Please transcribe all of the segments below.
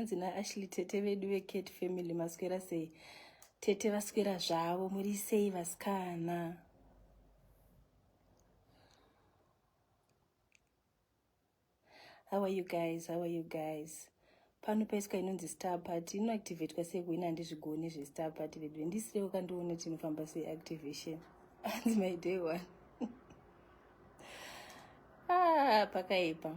hanzi naashley tete vedu vekate family maswera sei tete vaswera zvavo muri sei vasikana How are you guys? How are you guys? Pano paiswa inonzi star party inoactivatwa sei kuina handizvigoni zvestar party vedu ndisirewo kandione kuti inofamba sei activation hanzi my day one ah, pakaipa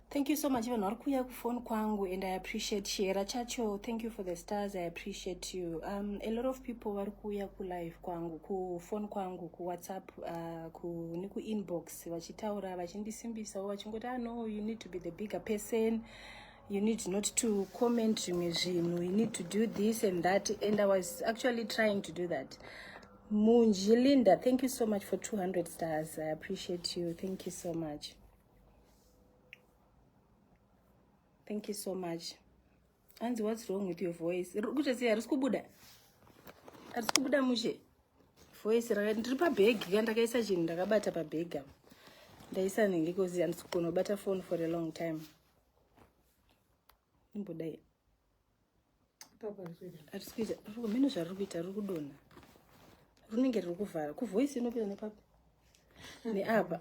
Thank you so much vanhu vari kuuya kufoni kwangu and I appreciate Shera chacho. Thank you for the stars. I appreciate you. Um, a lot of people vari kuuya kulive kwangu kufoni kwangu kuwhatsapp uh, ku, nekuinbox vachitaura vachindisimbisawo vachingoti ah no you need to be the bigger person you need not to comment zvimwe zvinhu you need to do this and that and I was actually trying to do that. Munji Linda, thank you so much for 200 stars. I appreciate you. Thank you so much. thank you so much hanzi what's wrong with your voice kuita sei harisi kubuda harisi kubuda mushe voice raka ndiri pabhegi ka ndakaisa chinhu ndakabata pabhegi apa ndaisa nenge kozi handisi kugona kubata phone for a long time imbodai atisikuita mene zvariri kuita riri kudonha runenge riri kuvhara kuvoisi inopinda nepapi neapa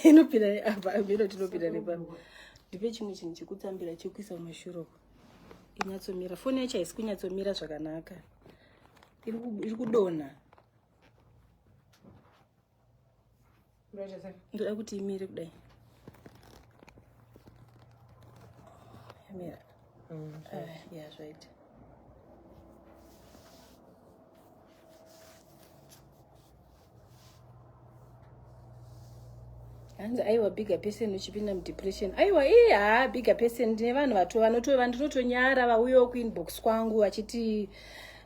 inopinda neapa meno tinopinda nepapi ndipe chimwe chinhu chekutsambira chekuisa mumashuro inyatsomira foni yacho haisi kunyatsomira zvakanaka iri kudonha ndoda kuti imire kudai yamira mm, ah, ya zvaita hanzi aiwa bigger person uchipinda mudepression aiwa ii haa bigger person ndine vanhu vato vanotova ndinotonyara vauyo kuinbox kwangu vachiti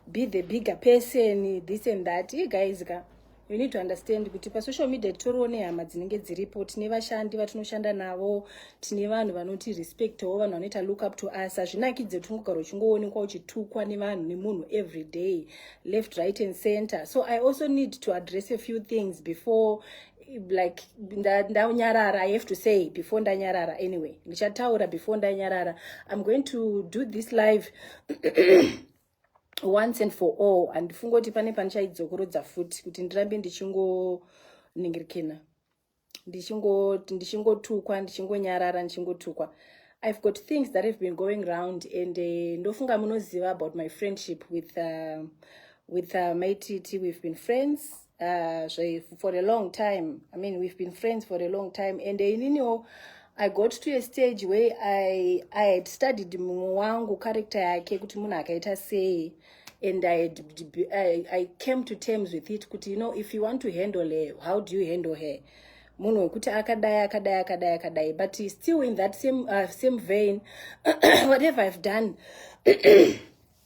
be the bigger person this and that i guys ka you need to understand kuti pasocial media titoriwo nehama dzinenge dziripo tine vashandi vatinoshanda navo tine vanhu vanoti respectwo vanhu vanoita look up to us hazvinakidze kuti ungogara uchingoonekwa uchitukwa nevanhu nemunhu every day left right and center so i also need to address a few things before like ndanyarara i have to say before ndanyarara anyway ndichataura before ndanyarara i'm going to do this live once and for all handifungoti pane pandichaidzokorodza futi kuti ndirambe ndichingoningirikina ndichingotukwa ndichingonyarara ndichingotukwa i've got things that have been going round and uh, ndofunga munoziva about my friendship with uh, with uh, my tt we've been friends uh, zve, for a long time i mean we've been friends for a long time and ininiwo i got to a stage where i, I had studied mumwe wangu character yake kuti munhu akaita sei and I, had, I, I came to terms with it kuti you know if you want to handle her how do you handle her munhu wekuti akadai akadai akadai akadai but still in that same, uh, same vein whatever i've done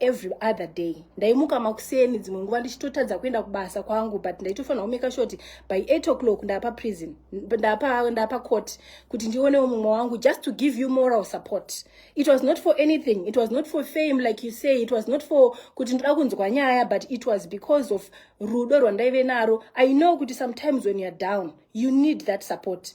every other day ndaimuka makuseni dzimwe nguva ndichitotadza kuenda kubasa kwangu but ndaitofanira kumeka shoti by 8 o'clock ndapa prison ndapa ndapa court kuti ndionewo mumwe wangu just to give you moral support it was not for anything it was not for fame like you say it was not for kuti ndoda kunzwa nyaya but it was because of rudo rwandaive naro i know kuti sometimes when youare down you need that support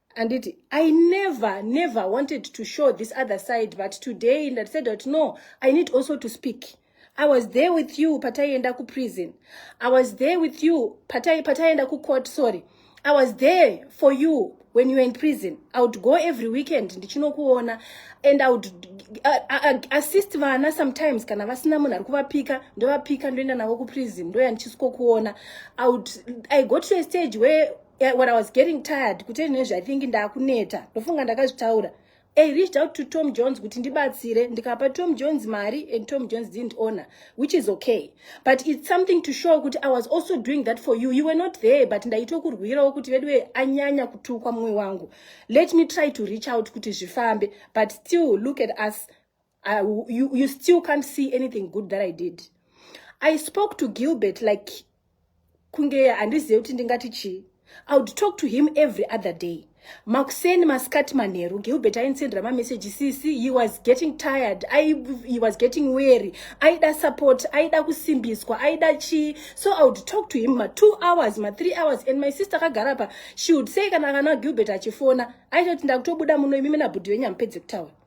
anditi i never never wanted to show this other side but today and i said that no i need also to speak i was there with you pataienda kuprison i was there with you pataienda kucourt sorry i was there for you when you were in prison i would go every weekend ndichinokuona and i would uh, uh, uh, assist vana sometimes kana vasina munhu ari kuvapika ndovapika ndoenda navo kuprison ndoya ndichisikokuona i would i got to a stage where yeah, when i was getting tired kutei nezve i think ndakuneta ndofunga ndakazvitaura i reached out to tom jones kuti ndibatsire ndikapa tom jones mari and tom jones didn't honor which is okay but it's something to show kuti i was also doing that for you you were not there but ndaitokurwirawo kuti veduwe anyanya kutukwa mumwe wangu let me try to reach out kuti zvifambe but still look at us Uh, you, you still can't see anything good that I did. I spoke to Gilbert like kunge handizive kuti ndingati chii. I would talk to him every other day. Makuseni masikati manheru Gilbert ainsendera mamessage sisi he was getting tired I, he was getting weary aida support aida kusimbiswa aida chii so I would talk to him ma two hours ma three hours and my sister akagara pa she would say kana kana Gilbert achifona aitoti ndakutobuda muno imimi nabhudhi venyu hamupedze kutaura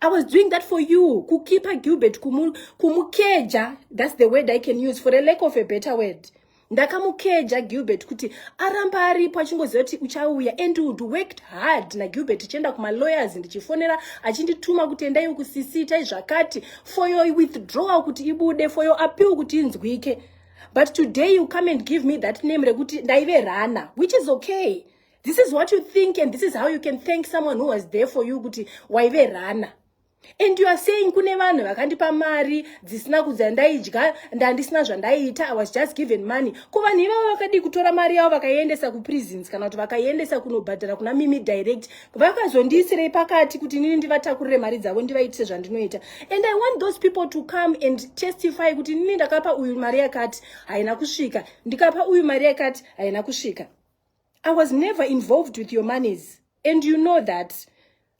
I was doing that for you. Kukipa Gilbert, kumu, kumukeja. That's the word I can use for a lack of a better word. ndakamukeja gilbert kuti aramba aripo achingoziva kuti uchauya and would worked hard nagilbert ichienda kumalawyers ndichifonera achindituma kuti endai ukusisita izvakati for your withdrawal kuti ibude for your appeal kuti inzwike but today you come and give me that name rekuti ndaive rana which is okay this is what you think and this is how you can thank someone who was there for you kuti waive rana and you are saying kune vanhu vakandipa mari dzisina kudza ndaidya ndandisina zvandaiita i was just given money ko vanhu ivavo vakadii kutora mari yavo vakaiendesa kuprisons kana kuti vakaiendesa kunobhadhara kuna mimi direct vakazondiisirei pakati kuti nini ndivatakurire mari dzavo ndivaitise zvandinoita and i want those people to come and testify kuti nini ndakapa uyu mari yakati haina kusvika ndikapa uyu mari yakati haina kusvika i was never involved with your moneys and you know that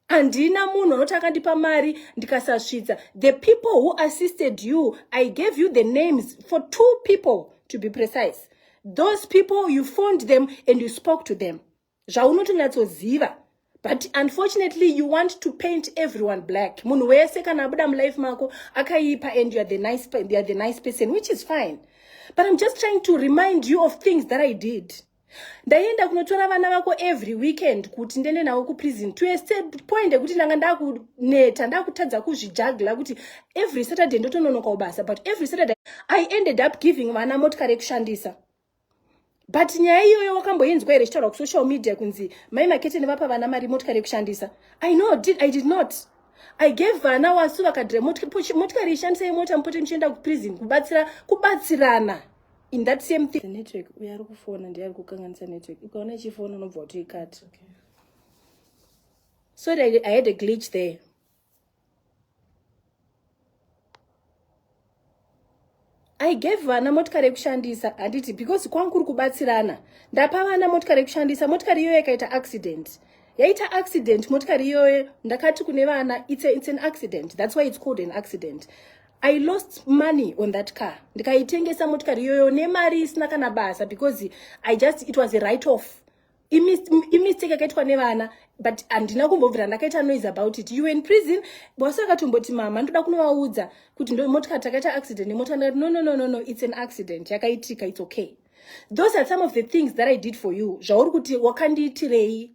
handina munhu anoti akandipa mari ndikasasvitsa the people who assisted you i gave you the names for two people to be precise those people you phoned them and you spoke to them zvaunotonyatsoziva but unfortunately you want to paint everyone black munhu wese kana abuda mulife mako akaipa and youare the, nice, you're the nice person which is fine but i'm just trying to remind you of things that i did ndaienda kunotora vana vako every weekend kuti ndiende navo kuprison to a point ekuti ndanga ndakuneta ndakutadza kuzvijagla kuti every saturday ndotononokawo basa but every saturday i ended up giving vana motikari yekushandisa but nyaya iyoyo wakamboinzwa here ichitaura kusocial media kunzi mai makete nevapa vana mari motikari yekushandisa i know did, i did not i gave vana wasu vakadhira motikari ishandisai mota mupote muchienda kuprison kubatsira kubatsirana in that same thing network uyo ari kufona ndiye ari kukanganisa network ukaona ichifona unobva utoikati okay. sorry I, i had a glitch there i gave vana motikari yekushandisa handiti because kwangu kuri kubatsirana ndapa vana motikari yekushandisa motikari iyoyo yakaita accident yaita accident motikari iyoyo ndakati kune vana it's, a, it's an accident that's why it's called an accident i lost money on that car ndikaitengesa motikari iyoyo nemari isina kana basa because i just it was a right off imistake yakaitwa nevana but handina kumbobvira ndakaita noise about it you in prison bosi akatomboti mama ndoda kunovaudza kuti ndomotika takaita accident nemota ndikati no no no no no it's an accident yakaitika it's okay those are some of the things that i did for you zvauri kuti wakandiitirei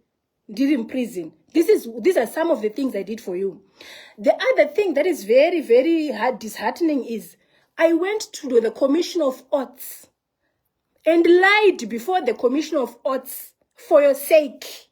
ndiri muprison this is these are some of the things i did for you the other thing that is very very hard disheartening is i went to the commission of arts and lied before the commission of oats for your sake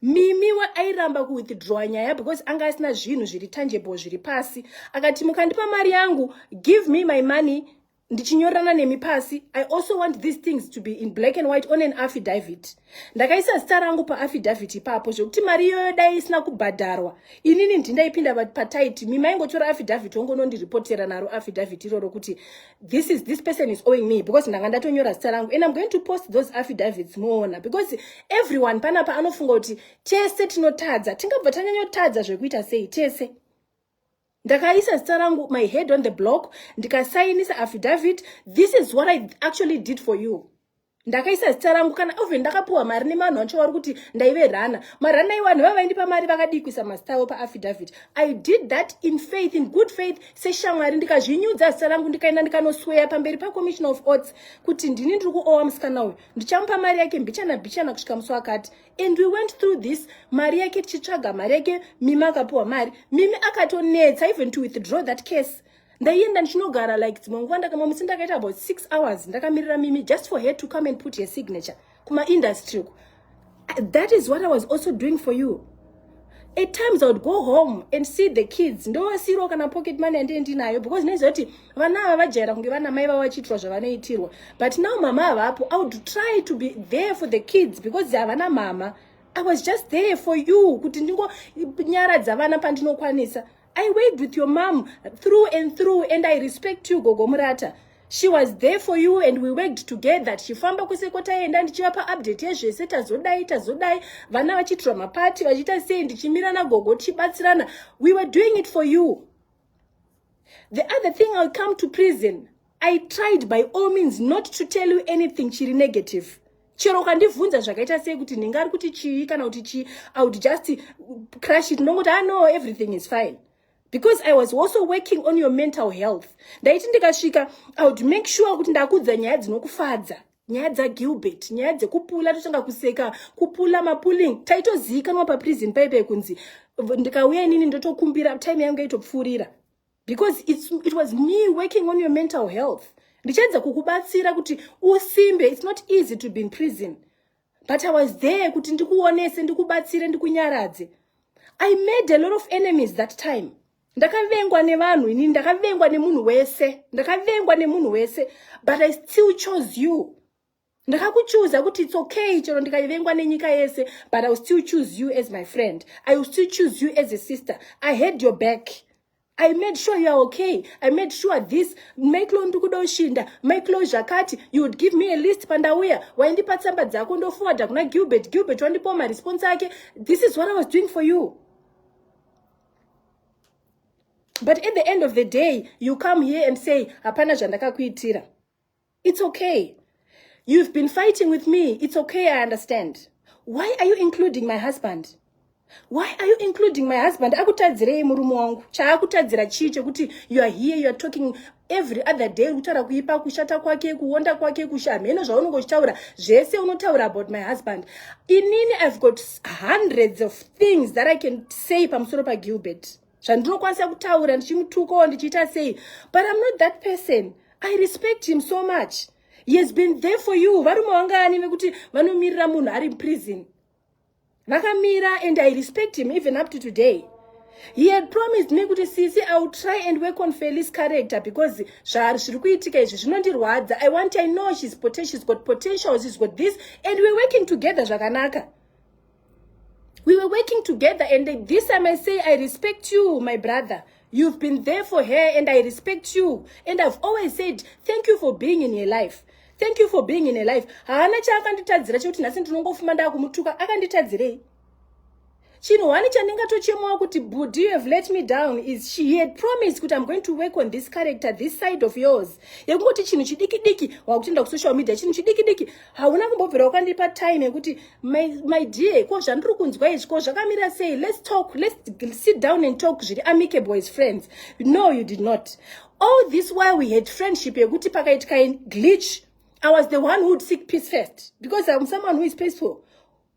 mimi airamba kuwithdrawa nyaya because anga asina zvinhu zviri tangible zviri pasi akati mukandipa mari yangu give me my money ndichinyorana nemi pasi i also want these things to be in black and white on an affidavit ndakaisa zita rangu paaffidavit ipapo zvekuti mari iyoyo dai isina kubhadharwa inini ndindaipinda pataiti mimaingotora affidavit ongonondiripotera naro affidavit iroro kuti this is this person is owing me because ndanga ndatonyora zita rangu and i'm going to post those affidavits moona because everyone panapa anofunga kuti tese tinotadza tingabva tanyanyotadza zvekuita sei tese ndakaisa zita rangu my head on the block ndikasainisa affidavit this is what i actually did for you ndakaisa zita rangu kana even ndakapiwa mari nevanhu vancho vari kuti ndaive rana marana iwanhu vavaindipa mari vakadii kuisa mazita avo paaffidavit i did that in faith in good faith seshamwari ndikazvinyudza zita rangu ndikaenda ndikanosweya pamberi pacommissioner of orts kuti ndini ndiri kuowa musikana uyu ndichamupa mari yake mbichana bichana kusvika musi wakati and we went through this mari yake tichitsvaga mari yake mimi akapiwa mari mimi akatonetsa even to withdraw that case ndaienda ndichinogara like dzimwe nguva ndakama musi ndakaita about six hours ndakamirira mimi just for her to come and put her signature kumaindustry uku that is what i was also doing for you at times i would go home and see the kids ndovasiro kana pocket money yandee ndinayo because naiziva kuti vana ava vajaira kunge vana mai vavo vachiitirwa zvavanoitirwa but now mama havapo i would try to be there for the kids because havana mama i was just there for you kuti ndingonyaradza vana pandinokwanisa I worked with your mom through and through and I respect you Gogo Murata. She was there for you and we worked together tichifamba kwese kwataienda ndichivapa update yezvese tazodai tazodai vana vachiitirwa mapati vachiita sei ndichimira nagogo tichibatsirana we were doing it for you the other thing ill come to prison I tried by all means not to tell you anything chiri negative chero ukandibvunza zvakaita sei kuti nhinga ari kuti chii kana kuti chii i would just crush it ndongoti ah no everything is fine because i was also working on your mental health ndaiti ndikasvika i would make sure kuti ndakuudza nyaya dzinokufadza nyaya dzagilbert nyaya dzekupula totanga kuseka kupula mapuling taitoziikanwa paprison paipe kunzi ndikauya inini ndotokumbira time yangu yaitopfuurira because it's, it was me working on your mental health ndichaedza kukubatsira kuti usimbe it's not easy to be in prison but i was there kuti ndikuonese ndikubatsire ndikunyaradze i made a lot of enemies that time ndakavengwa nevanhu inini ndakavengwa nemunhu wese ndakavengwa nemunhu wese but i still chose you ndakakuchuza kuti its okay chero ndikaivengwa nenyika yese but i will still choose you as my friend i will still choose you as a sister i had your back i made sure you are okay i made sure this maiklo ndikuda ushinda maiklo zvakati you would give me a list pandauya waindipa tsamba dzako ndofuwadha kuna gilbert gilbert wandipawo maresponse ake this is what i was doing for you but at the end of the day you come here and say hapana zvandakakuitira It's okay. You've been fighting with me. It's okay, I understand. Why are you including my husband? Why are you including my husband? Akutadzirei murume wangu. Chaakutadzira chii chekuti you are here, you are talking every other day kutaura kuipa kushata kwake kuonda kwake kusha hameno zvaunenge uchitaura zvese unotaura about my husband inini i've got hundreds of things that i can say pamusoro pagilbert pa zvandinokwanisa kutaura ndichimutukawo ndichiita sei but im not that person i respect him so much he has been there for you varume vangani vekuti vanomirira munhu ari muprison vakamira and i respect him even up to today he had promised me kuti sisi i will try and work on felis character because zvaari zviri kuitika izvi zvinondirwadza i want i know shes potential, got potential shes got this and we're working together zvakanaka we were working together and this time i say i respect you my brother you've been there for her and i respect you and i've always said thank you for being in her life thank you for being in her life haana chaakanditadzira chekuti nhasi ndinongofuma ndaakumutuka akanditadzirei chinhu wani chandingatochemawo kuti budi you have let me down is she he had promised kuti i'm going to work on this character this side of yours yekungoti chinhu chidiki diki wakutenda kusocial media chinhu chidiki diki hauna kumbobvira wakandipa time yekuti my, my dear ko zvandiri kunzwa izvi ko zvakamira sei let's talk let's sit down and talk zviri amicable as friends no you did not all this while we had friendship yekuti pakaitika glitch i was the one who would seek peace first because i'm someone who is peaceful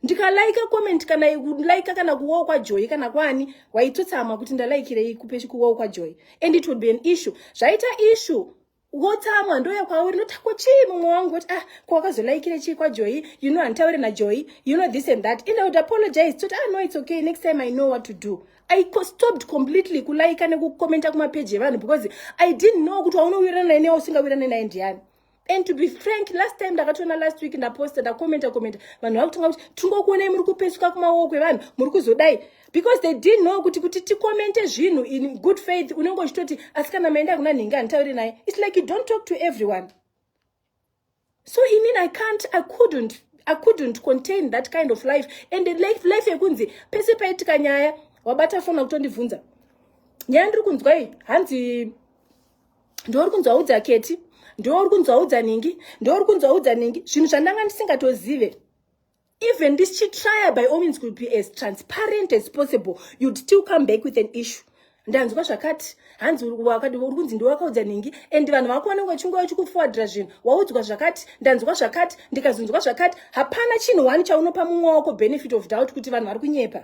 ndikalaika comment kana laika kana kuwawo kwajoyi kana kwani waitotsamwa kuti ndalaikirei kuwawo kwajoyi and it would be an issue zvaita issue wotsamwa ndouya kwauri noti ko chii mumwe wangu kuti ah ko wakazolaikire chii kwajoyi you know handitaure najoyi you know this and that and i would apologize toti ah no it's okay next time i know what to do i stopped completely kulaika nekukomenta kumapeji evanhu because i didn't know kuti waunowirana naye newa usingawirane naye ndiyani and to be frank last time ndakatoona last week ndaposta ndakomenta komenta vanhu vakutanga kuti tingokuonai muri kupesuka kumaoko evanhu muri kuzodai because they didn't know kuti kuti tikomente zvinhu in good faith unenge uchitoti asi kana maenda kuna nhingi anditaure naye its like you don't talk to everyone so i mean i can't i couldn't i couldn't contain that kind of life and life, life yekunzi pese paitika nyaya wabata fona kutondibvunza nyaya ndiri kunzwa iyi hanzi ndouri kunzwa udza keti ndouri kunzwa udza nhingi ndouri kunzwa udza nhingi zvinhu zvandanga ndisingatozive even this chitryer by all means could be as transparent as possible you'd still come back with an issue ndanzwa zvakati hanzi wakati uri kunzi ndiwakaudza nhingi and vanhu vakuona kunge chingova chikufuwadira zvinhu waudzwa zvakati ndanzwa zvakati ndikazonzwa zvakati hapana chinhu one chaunopa mumwe wako benefit of doubt kuti vanhu vari kunyepa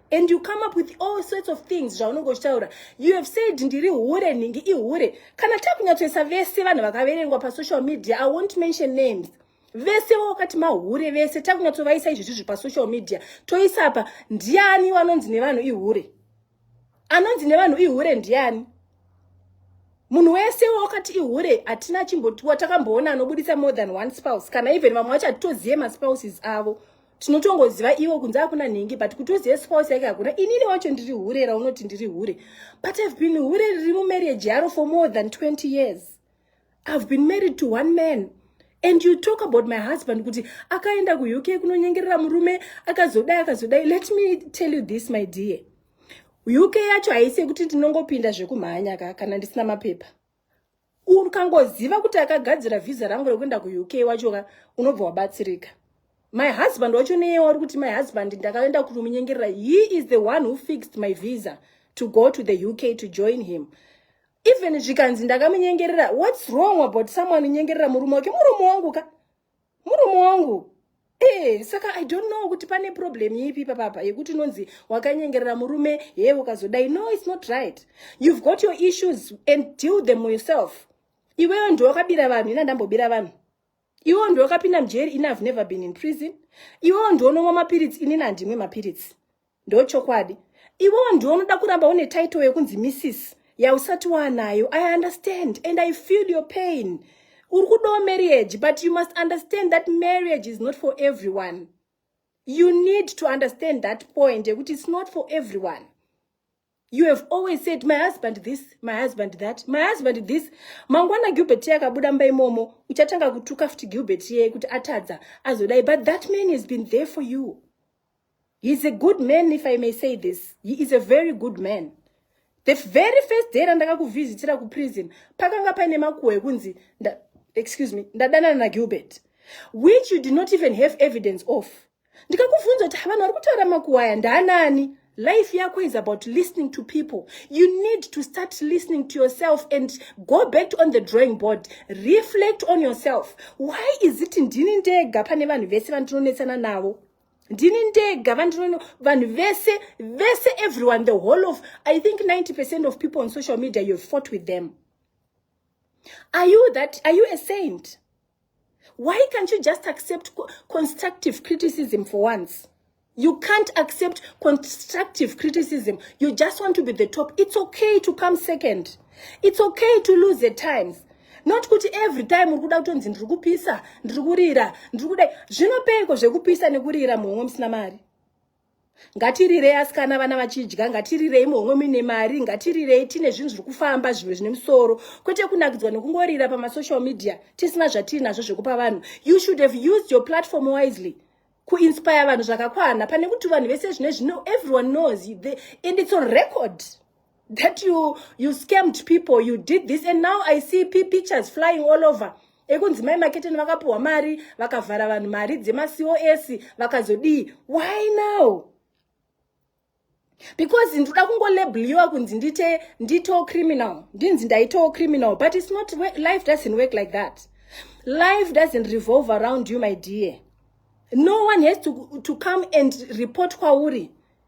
and you come up with all sorts of things zvaunenge uchitaura you have said ndiri hure nhingi ihure kana takunyatsoisa vese vanhu vakaverengwa pasocial media i won't mention names vese wakati mahure vese takunyatsovaisa izvi zvizvi pasocial media toisa apa ndiani wanonzi nevanhu ihure anonzi nevanhu ihure ndiani munhu wese wakati ihure hatina chimbotiwa takamboona anobudisa more than one spouse kana even vamwe vacho hatitozive maspouses avo tinotongoziva ivo kunze hakuna nhingi but kuti uzive spouse yake hakuna inini wacho ndiri hure raunoti ndiri hure but ihave been hure riri mumarriage yaro for more than 20 years ihave been married to one man and you talk about my husband kuti akaenda kuuk kunonyengerera murume akazodai akazodai let me tell you this my dear uk yacho haisi yekuti ndinongopinda zvekumhanya ka kana ndisina mapepa ukangoziva kuti akagadzira vhiza rangu rekuenda kuuk wacho ka unobva wabatsirika my husband wacho neye wari kuti my husband ndakaenda kunomunyengerera he is the one who fixed my visa to go to the uk to join him even zvikanzi ndakamunyengerera whats wrong about someone unyengerera murume wake murume wangu ka murume wangu Hey, eh, saka i don't know kuti pane problem ipi papapa yekuti unonzi wakanyengerera murume hee ukazodai no its not right you've got your issues and deal them yourself iweyo ndiwe wakabira vanhu ina ndambobira vanhu iweyo ndiwe wakapinda mujeri ini have never been in prison iweyo ndionomwa mapiritsi inini handimwe mapiritsi Ndochokwadi. Iwewo ndiwe unoda kuramba une title yekunzi missis yausati waanayo. I understand and I feel your pain. Uri kudawo marriage but you must understand that marriage is not for everyone. You need to understand that point yekuti it's not for everyone. you have always said my husband this my husband that my husband this mangwana gilbert ye akabuda mba imomo uchatanga kutuka futi gilbert yeye kuti atadza azodai but that man has been there for you heis a good man if i may say this he is a very good man the very first day randakakuvhizitira kuprison pakanga paine makuhwa ekunzi excuse me ndadanana nagilbert which you did not even have evidence of ndikakuvhunza kuti havanhu vari kutaura makuwaya ndaanani life yako is about listening to people you need to start listening to yourself and go back on the drawing board reflect on yourself why is it ndini ndega pane vanhu vese vandinonetsana navo ndini ndega vandinono vanhu vese vese everyone the whole of i think 90 percent of people on social media you have fought with them are you that are you a saint Why can't you just accept constructive criticism for once? You can't accept constructive criticism. You just want to be the top. It's okay to come second. It's okay to lose the times. Not kuti every time uri kuda kutonzi ndiri kupisa, ndiri kurira, ndiri kudai. Zvinopeiko zvekupisa nekurira muhomwe musina mari? ngatirirei asikana vana vachidya ngatirirei muhomwe muine mari ngatirirei tine zvinhu zviri kufamba zvimwe zvine musoro kwete kunakidzwa nekungorira pamasocial media tisina zvatiri nazvo zvekupa vanhu you should have used your platform wisely kuinspire vanhu zvakakwana pane kuti vanhu vese zvine zvino everyone knows and its on record that you you scammed people you did this and now i see pictures flying all over ekunzi mai maketeni vakapiwa mari vakavhara vanhu mari dzemacos vakazodii why now because ndoda kungolabeliwa kunzi ndite ndito criminal ndinzi ndaito criminal but its not life doesn't work like that life doesn't revolve around you my dear no one has to, to come and report kwauri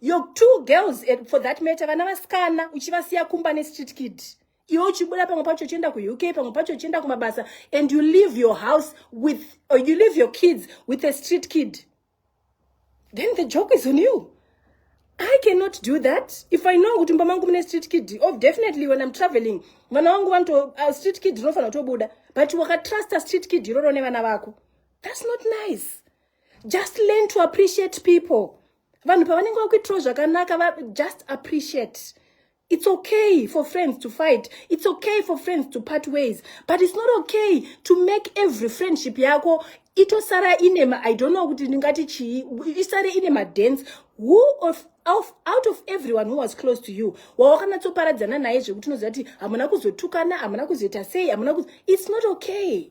your two girls eh, for that matter vana vasikana uchivasiya kumba nestreet kid iwe uchibuda pamwe pacho uchienda kuuk pamwe pacho uchienda kumabasa and you leave your house with or you leave your kids with a street kid then the joke is on you i cannot do that if i know kuti mba mangu mune street kid of oh, definitely when i'm traveling vana wangu vanoto uh, street kid rinofanira kutobuda but wakatrusta street kid iroro nevana vako that's not nice just learn to appreciate people vanhu pavanenge vakuitirawo zvakanaka va just appreciate it's okay for friends to fight it's okay for friends to part ways but it's not okay to make every friendship yako itosara ine ma i don't know kuti ndingati chii isare ine madance who of Of, out of everyone who was close to you wawakanatsoparadzana naye zvekuti unoziva kuti hamuna kuzotukana hamuna kuzoita sei hamuna it's not okay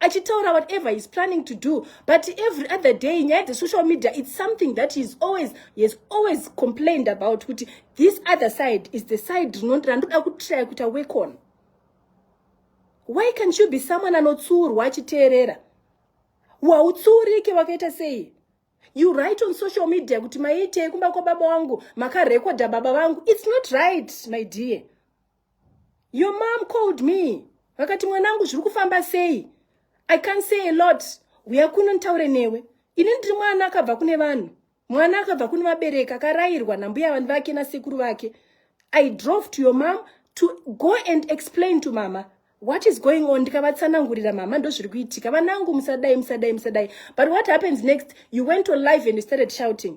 achitaura whatever he's planning to do but every other day nyaya dzesocial media it's something that he's always he's always complained about kuti this other side is the side randoda kutraya kuita work on why can't you be someone anotsiurwa achiteerera wautsiurike wakaita sei you write on social media kuti maiitei kumba kwababa wangu makarekodha baba vangu it's not right my dear your mom called me vakati mwanangu zviri kufamba sei i can't say a lot huya kuno nditaure newe ini ndiri mwana akabva kune vanhu mwana akabva kune vabereki akarayirwa nambuya vanhu vake nasekuru vake i drove to your mom to go and explain to mama what is going on ndikavatsanangurira mama ndozviri kuitika vanangu musadai musadai musadai but what happens next you went on live and you started shouting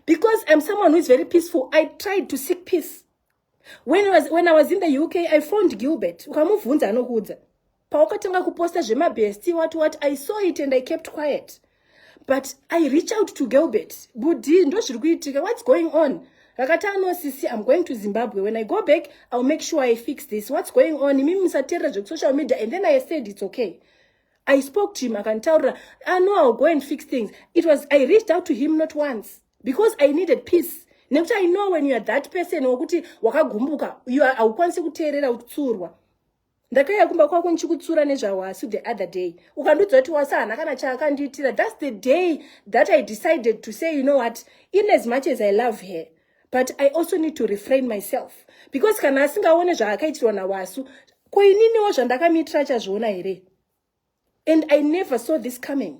because im someone who is very peaceful i tried to seek peace when, was, when i was in the uk i found gilbert ukamubvunza anokuudza pawakatanga kuposta zvemabesti wati wati i saw it and i kept quiet but i reach out to gilbert budi ndozviri kuitika what's going on rakati anosisi i'm going to zimbabwe when i go back iwill make sure i fix this what's going on imimi musateerera zvekusocial media and then i said it's okay i spoke to him akanditaurira i ah, know iwill go and fix things it was i reached out to him not once because i needed peace nekuti i know when youare that person wekuti wakagumbuka haukwanisi kuteerera utsurwa ndakaiya kumba kwako ndichikutsura nezvawasu the other day ukandiudza kuti wasu hana kana chaakandiitira thats the day that i decided to say you know what in as much as i love her but i also need to refrain myself because kana asingaone zvaakaitirwa nawasu ko ininiwo zvandakamiitira achazviona here and i never saw this coming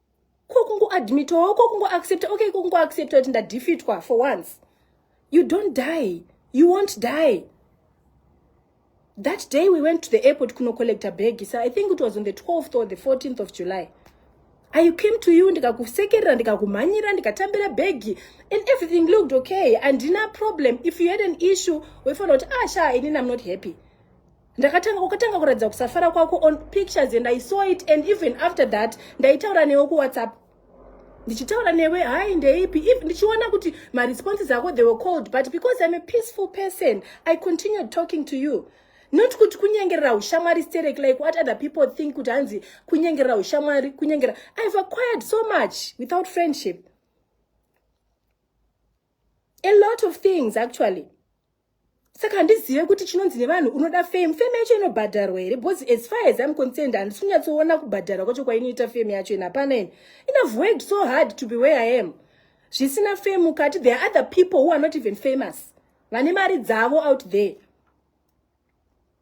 ko kungoadmita wo ko kungoaccepta okay ko kungoaccepta kuti ndadefeatwa for once you don't die you won't die that day we went to the airport kunocollecta bag so i think it was on the 12th or the 14th of july i came to you ndikakusekerera ndikakumhanyira ndikatambira bhegi and everything looked okay andina problem if you had an issue wefanira kuti ah sha inini i'm not happy ndakatanga ukatanga kuratidza kusafara kwako on pictures and i saw it and even after that ndaitaura newe kuwhatsapp ndichitaura newe hai ndeipi if ndichiona kuti maresponses ako they were called but because i'm a peaceful person i continued talking to you not kuti kunyengerera ushamwari sterek like what other people think kuti hanzi kunyengerera ushamwari kunyengera i've acquired so much without friendship a lot of things actually saka handizive kuti chinonzi nevanhu unoda fame fame yacho inobhadharwa here bcause as far as im concerned handisi kunyatsoona kubhadharwa kwacho kwainoita fame yacho ini hapana ini inave worked so hard to be where i am zvisina fame mukati there are other people who are not even famous vane mari dzavo out there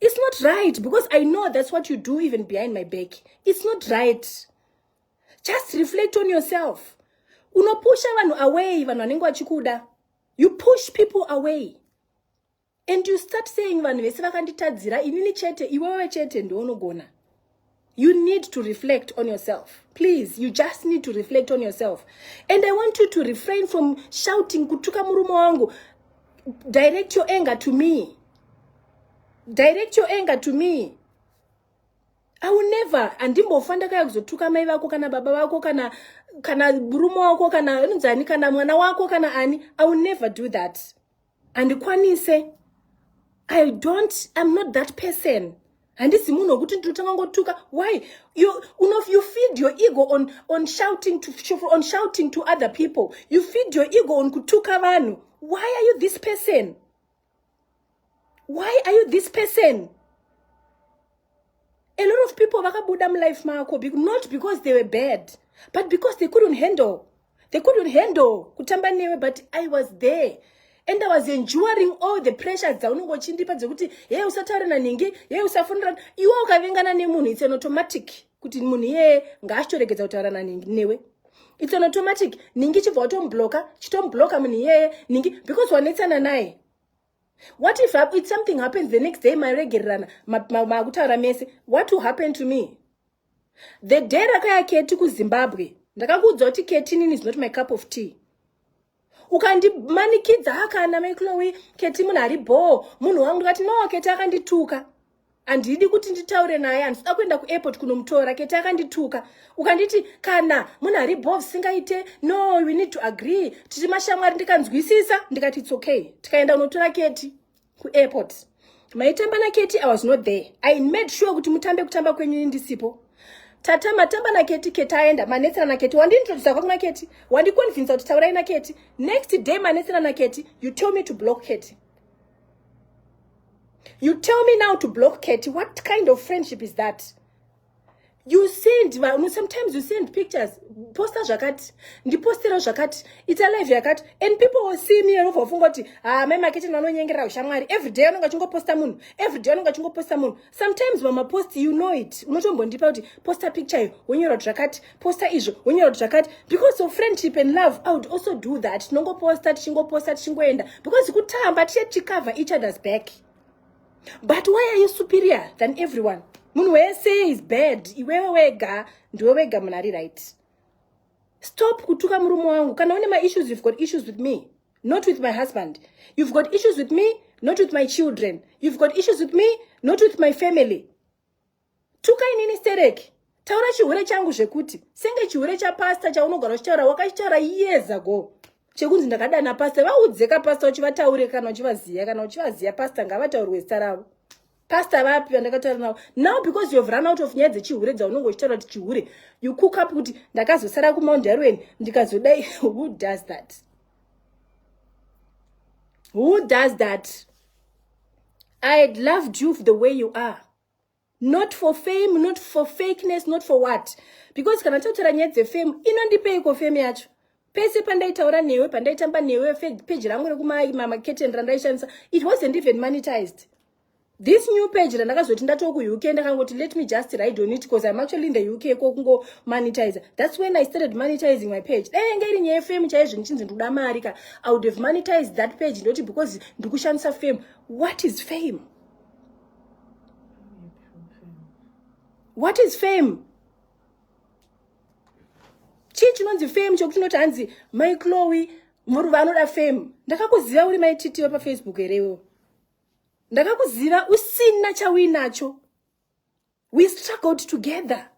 It's not right because I know that's what you do even behind my back. It's not right. Just reflect on yourself. Unopusha vanhu away vanhu vanenge vachikuda. You push people away. And you start saying vanhu vese vakanditadzira inini chete iwewe chete ndounogona. you need to reflect on yourself please you just need to reflect on yourself and i want you to refrain from shouting kutuka murume wangu direct your anger to me direct your anger to me i will never andimbofa ndakaya kuzotuka mai vako kana baba vako kana kana murume wako kana anonzi ani kana mwana wako kana ani i will never do that handikwanise i don't im not that person handisi munhu wekuti ndinotanga ngotuka why you, you, know, you feed your ego on, on, shouting to, on shouting to other people you feed your ego on kutuka vanhu why are you this person why are you this person a lot of people vakabuda mulife mako not because they were bad but because they couldn't handle they couldn't handle kutamba newe but i was there and i was enduring all the pressures dzaunenge uchindipa dzekuti heye usataure nanhingi heye usafonera iwe ukavengana nemunhu its an automatic kuti munhu iyeye ngaachitoregedza kutaura nanhingi newe its an automatic nhingi chibva watombloka chitombloka munhu iyeye nhingi because wanetsana naye what if if something happens the next day mairegererana makutaura mese what will happen to me the day rakaya keti kuzimbabwe ndakakuudza kuti ketinini is not my cup of tea ukandimanikidza akana meclowi keti munhu ari bhoo munhu wangu ndikati no keti akandituka handidi kuti nditaure naye handisida kuenda kuairport kunomutora kete akandituka ukanditi kana munhu ari bov singaite no we need to agree tiri mashamwari ndikanzwisisa ndikati its okay tikaenda unotora keti kuairport maitamba naketi i was not there i made sure kuti mutambe kutamba kwenyu ndisipo tata matamba naketi keti aenda manetsera naketi wandintrodusa kwangu naketi wandiconvinsa kuti taurai naketi next day manetsera naketi you tell me to block keti you tell me now to block kety what kind of friendship is that you send vanhu sometimes you send pictures posta zvakati ndipostera zvakati ita live yakati and people will see me anobva vafunga kuti ha ah, mai maketeni vanonyengerera ushamwari every day anonga achingoposta munhu every day anonga achingoposta munhu sometimes vamapost you know it unotombondipa kuti posta picture iyo wonyora kuti zvakati posta izvo wonyora kuti zvakati because of friendship and love i would also do that tinongoposta tichingoposta tichingoenda because kutamba tiye tichicover each other's back but why are you superior than everyone munhu wese is bad iwewe wega ndiwe wega munhu ari right stop kutuka murume wangu kana une maissues you've got issues with me not with my husband you've got issues with me not with my children you've got issues with me not with my family tuka inini stereki taura chihure changu zvekuti senge chihure chapasta chaunogara uchitaura wakachitaura years ago chekunzi ndakadana pasta vaudzeka pasta uchivataure kana uchivaziya kana uchivaziya pasta ngavataurirwe zita ravo pastor vapi vandakataura navo now because youhave run out of nyaya dzechihure dzaunenge uchitaura kuti chihure you cook up kuti ndakazosara kumount darwen ndikazodai who does that who does that i had loved you the way you are not for fame not for fakeness not for what because kana tautaura nyaya dzefame inondipeiko fame yacho pese pandaitaura newe pandaitamba newe peji rangu rekumamaketen randaishandisa it wasn't even monetized this new page randakazoti ndatoo kuuk ndakangoti let me just ride on it because im actually in the uk ko kungo monetizer thats when i started monetizing my page dai yanga iri nyaya fame chaizvo ndichinzi ndikuda mari ka i would have monetized that page ndoti because ndikushandisa fame what is fame what is fame chii chinonzi fame chokuti unoti hanzi mai clowi muruva anoda fame ndakakuziva uri mai titi wepafacebook here iwewo ndakakuziva usina chauinacho we struggled together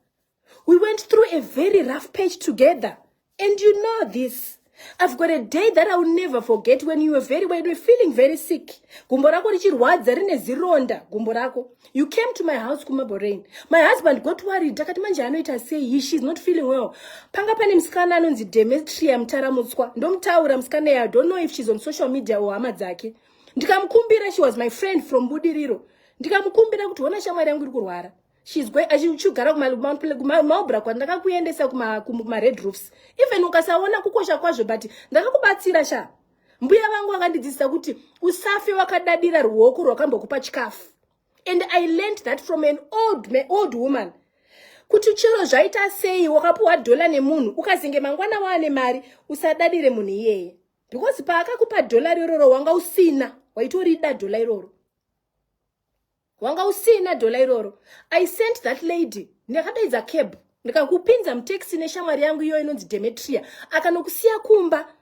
we went through a very rough page together and you know this I've got a day that I will never forget when you were very when you were feeling very sick. Gumbo rako richirwadza rine zironda gumbo rako. You came to my house kumaborain. My husband got worried akati manje anoita sei he she's not feeling well. Panga pane musikana anonzi Demetria Mutaramutswa. Ndomutaura musikana I don't know if she's on social media or hama dzake. Ndikamukumbira she was my friend from Budiriro. Ndikamukumbira kuti hona shamwari yangu iri kurwara. she's going achichigara kumaubra kwa ndakakuendesa kumared roofs even ukasaona kukosha kwazvo but ndakakubatsira sha mbuya vangu vakandidzidzisa kuti usafe wakadadira ruoko rwakambokupa chikafu and i learned that from an old, man, old woman kuti chero zvaita sei wakapiwa dhola nemunhu ukazenge mangwana waane mari usadadire munhu iyeye because paakakupa dhola iroro wanga usina waitorida dhola iroro wanga usina dhola iroro i sent that lady ndakadaidza cab ndikakupinza mutaxi neshamwari yangu iyo inonzi demetria akanokusiya kumba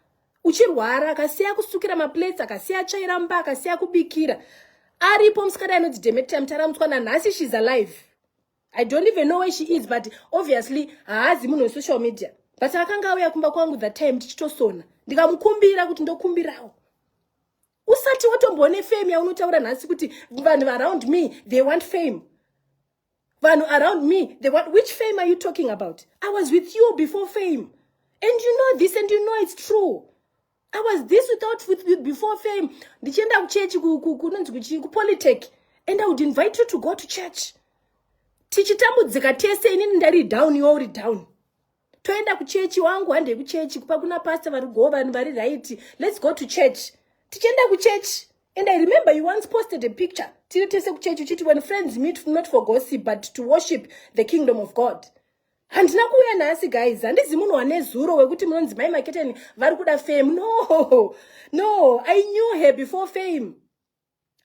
uchirwara akasiya kusukira maplates akasiya tsvaira mba akasiya kubikira aripo musikana ainonzi demetria mutaramutswa nanhasi shes alive i don't even know where she is but obviously haazi munhu wesocial media but akanga auya kumba kwangu that time tichitosona ndikamukumbira kuti ndokumbirawo usati watomboone fame yaunotaura nhasi kuti vanhu around me they want fame vanhu around me they want which fame are you talking about i was with you before fame and you know this and you know it's true i was this without with you before fame ndichienda kuchechi kunonzi kuchii kupolitech and i would invite you to go to church tichitambudzika tese inini ndari down iwe uri down toenda kuchechi wangu handei kuchechi kupa kuna pasta vari go vanhu vari right let's go to church tichienda kuchechi and i remember you once posted a picture tiri tese kuchechi uchiti when friends meet not for gossip but to worship the kingdom of god handina kuuya nhasi guys handizi munhu wane zuro wekuti munonzi mai maketeni vari kuda fame no no i knew her before fame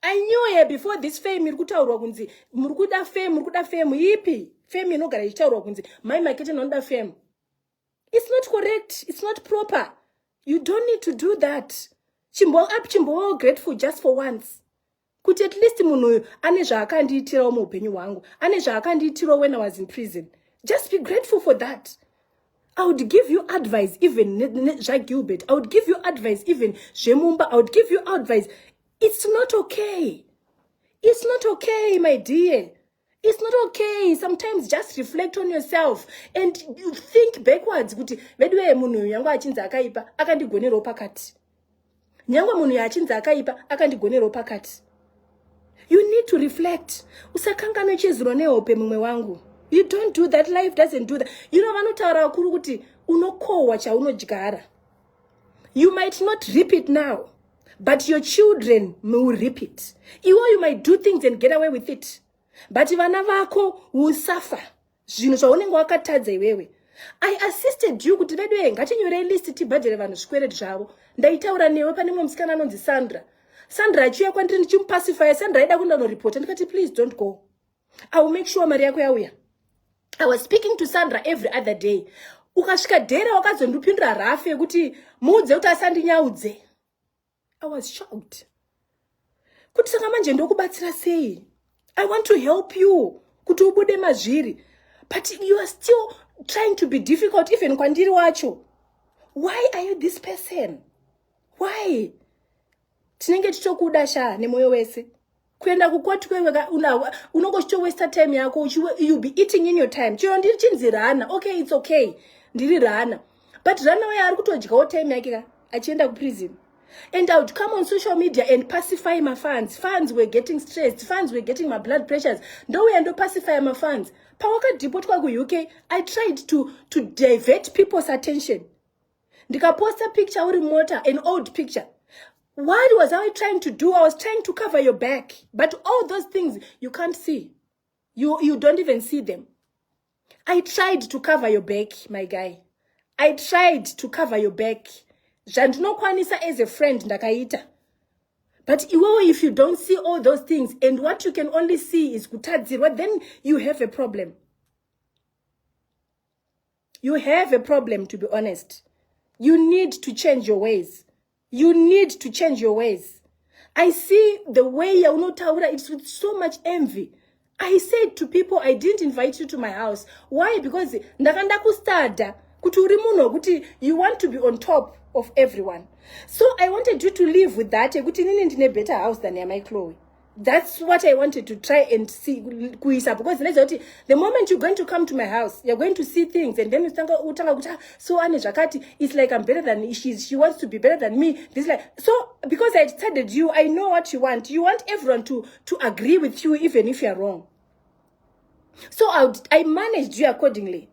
i knew her before this fame iri kutaurwa kunzi muri kuda fame muri kuda fame ipi fame inogara ichitaurwa kunzi mai makete nonoda fame it's not correct it's not proper you don't need to do that chimbo up chimbowo grateful just for once kuti at least munhu uyu ane zvaakandiitirawo muupenyu hwangu ane zvaakandiitirawo when i was in prison just be grateful for that I would give you advice even zvaGilbert. I would give you advice even zvemumba. I would give you advice. It's not okay. It's not okay, my dear. It's not okay. Sometimes just reflect on yourself and think backwards kuti veduwe munhu yangu achinzi akaipa akandigonerewo pakati. nyange munhu yaachinzi akaipa akandigonerwo pakati you need to reflect usakanganwe chezuro nehope mumwe wangu you don't do that life doesn't do that you know vanotaura vakuru kuti unokohwa chaunodyara you might not rip it now but your children will rip it iwo you might do things and get away with it but vana vako will suffer zvinhu zvaunenge wakatadza iwewe i assisted you kuti veduwe ngatinyorei list tibhadhere vanhu zvikwereti zvavo ndaitaura newe pane mumwe musikana anonzi sandra sandra achiuya kwandiri ndichimupasifaya sandra aida kundanoripota ndikati please don't go i will make sure mari yako yauya i was speaking to sandra every other day ukasvika dhera wakazondipindura rafu yekuti muudze kuti asandinyaudze i was shocked kuti saka manje ndokubatsira sei i want to help you kuti ubude mazviri but you are still trying to be difficult even kwandiri wacho why are you this person why tinenge tichokuda sha nemoyo wese kuenda kukwati kweweka unawa unongo chitowesta time yako uchiwe you be eating in your time chero ndiri chinzi rana okay it's okay ndiri rana but rana waye ari kutodyawo time yake ka achienda kuprison and i would come on social media and pacify mafans fans were getting stressed fans were getting mablood pressures ndouya ndopacify mafans pawakadhipotwa kuuk i tried to, to divert people's attention ndikaposta picture uri mota an old picture what was i trying to do i was trying to cover your back but all those things you can't see you, you don't even see them i tried to cover your back my guy i tried to cover your back zvandinokwanisa as a friend ndakaita but iwewe if you don't see all those things and what you can only see is kutadzirwa then you have a problem you have a problem to be honest you need to change your ways you need to change your ways i see the way yaunotaura its with so much envy i said to people i didn't invite you to my house why because ndakanda kustada kuti uri munhu wekuti you want to be on top of everyone so i wanted you to live with that yekuti inini ndine better house than yamai chloe that's what i wanted to try and see kuisa because ndaiziva kuti the moment you're going to come to my house you're going to see things and then utanga utanga kuti ah, so ane zvakati it's like i'm better than she, she wants to be better than me this like so because i decided you i know what you want you want everyone to to agree with you even if you're wrong so I, would, I managed you accordingly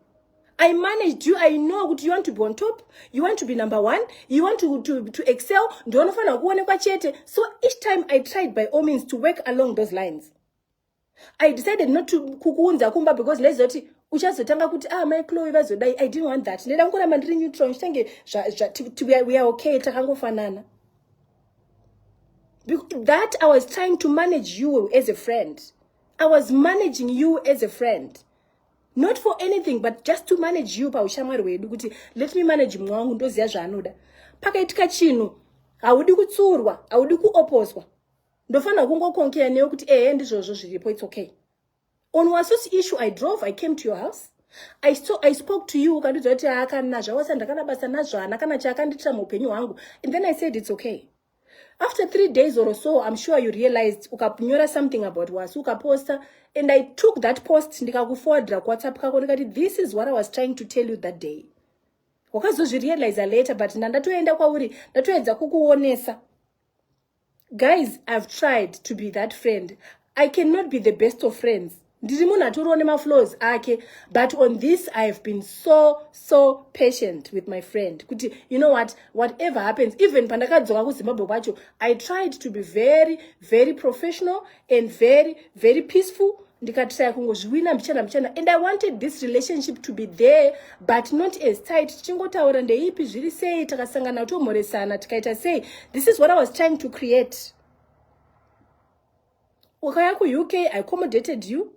I managed you. I know kuti you want to be on top. You want to be number one. You want to, to, to excel. Ndionofanira kuonekwa chete. So each time I tried by all means to work along those lines. I decided not to kukuunza kumba because ndaizoti uchazotanga kuti ah mai Chloe vazodai. I didn't want that. Ndida kungoramba ndiri neutral. Ndichange we are okay takangofanana. That I was trying to manage you as a friend. I was managing you as a friend not for anything but just to manage you paushamwari hwedu kuti let me manage mumwe wangu ndoziva zvaanoda pakaitika chinhu haudi kutsurwa haudi kuoposwa ndofanira kungokonkea newe kuti ehe ndizvozvo zviripo its okay on wasosi issue i drove i came to your house I, so, i spoke to you ukandiudza kuti aakana zvawasa ndakana basa nazvana kana chaakandiitira muupenyu hwangu and then i said its okay after three days or so im sure you realized ukanyora something about wasu ukaposta and i took that post ndikakuforwardira kuwhatsapp kako ndikati this is what i was trying to tell you that day wakazozvirealiza later but ndandatoenda kwauri ndatoedza kukuonesa guys i've tried to be that friend i cannot be the best of friends ndiri munhu atoriwo nemaflows ake but on this i have been so so patient with my friend kuti you know what whatever happens even pandakadzoka kuzimbabwe kwacho i tried to be very very professional and very very peaceful ndikatraya kungozviwina mbichana mbichana and i wanted this relationship to be there but not as tight tichingotaura ndeipi zviri sei takasangana tomhoresana tikaita sei this is what i was trying to create wakauya kuuk i accommodated you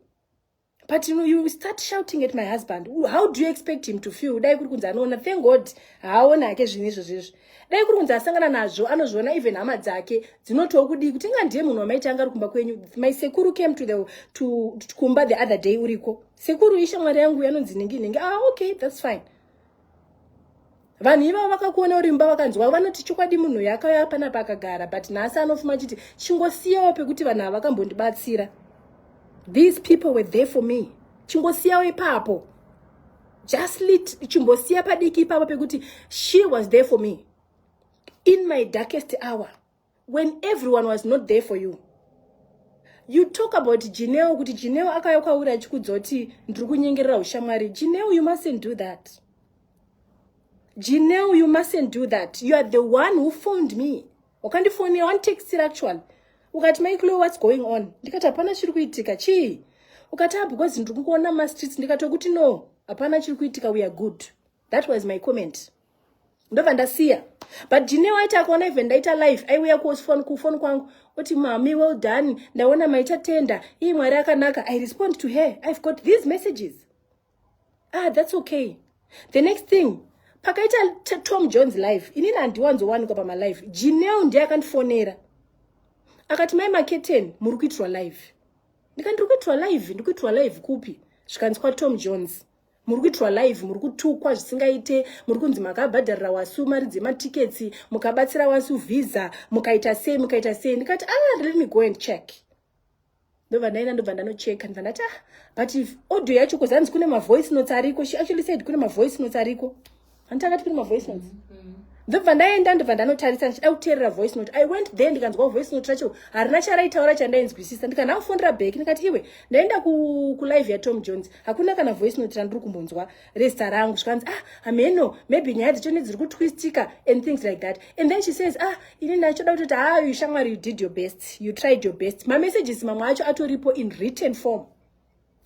but you, you start shouting at my husband how do you expect him to feel dai kuri kunzi anoona thank god haaone hake zvinhu izvo zvezvo dai kuri kunzi asangana nazvo anozviona even hama dzake dzinotiwo kudii kuti inga ndiye munhu wamaiti anga ari kumba kwenyu my sekuru came to the to kumba the other day uriko sekuru ishamwari yangu yanonzi ningi ningi ah okay that's fine vanhu ivavo vakakuona uri mba vakanzwa vanoti chokwadi munhu yakauya pana pakagara but nhasi anofuma chiti chingosiyawo pekuti vanhu ava vakambondibatsira these people were there for me chingosiyawo ipapo just lit chimbosiya padiki ipapo pekuti she was there for me in my darkest hour when everyone was not there for you you talk about jineo kuti jineo akauya kwauri achikudza kuti ndiri kunyengerera ushamwari jineo you mustn't do that jineo you mustn't do that you are the one who phoned me wakandifonera wanditextira actually ukati maiklo what's going on ndikati hapana chiri kuitika chii ukati ah because ndiri kukuona mumastreets ndikatokuti no hapana chiri kuitika weare good that was my comment ndobva ndasiya but jine waita akaona even ndaita life aiuya kufoni kufoni kwangu oti mami well done ndaona maita tenda ii mwari akanaka i respond to her i've got these messages ah that's okay the next thing pakaita tom jones life inini handiwanzowanikwa pamalife jineo ndiye akandifonera akati mai maketen muri kuitirwa live ndikandi ndiri kuitirwa live ndiri kuitirwa live kupi zvikanzi kwatom jones muri kuitirwa live muri kutukwa zvisingaite muri kunzi makabhadharira wasu mari dzematiketsi mukabatsira wasu visa mukaita sei mukaita sei ndikati ah let me go and check ndobva ndaenda ndobva ndanocheka ndibva ndati ah but audio yacho kuzanzi kune mavoice notes ariko she actually said kune mavoice notes ariko hanti akatipiri mavoice notes mm -hmm ndobva ndaenda ndobva ndanotarisa ndichida kuteerera voice note i went there ndikanzwa voice note racho harina charaitaura chandainzwisisa ndikana kufondera back ndikati iwe ndaenda kulive ku yatom jones hakuna kana voice note randiri kumbonzwa resta rangu zvikanzi ah hameno maybe nyaya dzechone dziri kutwistika and things like that and then she says ah ini ndachoda kutoti ha ah, you shamwari you did your best you tried your best mamessages mamwe acho atoripo in written form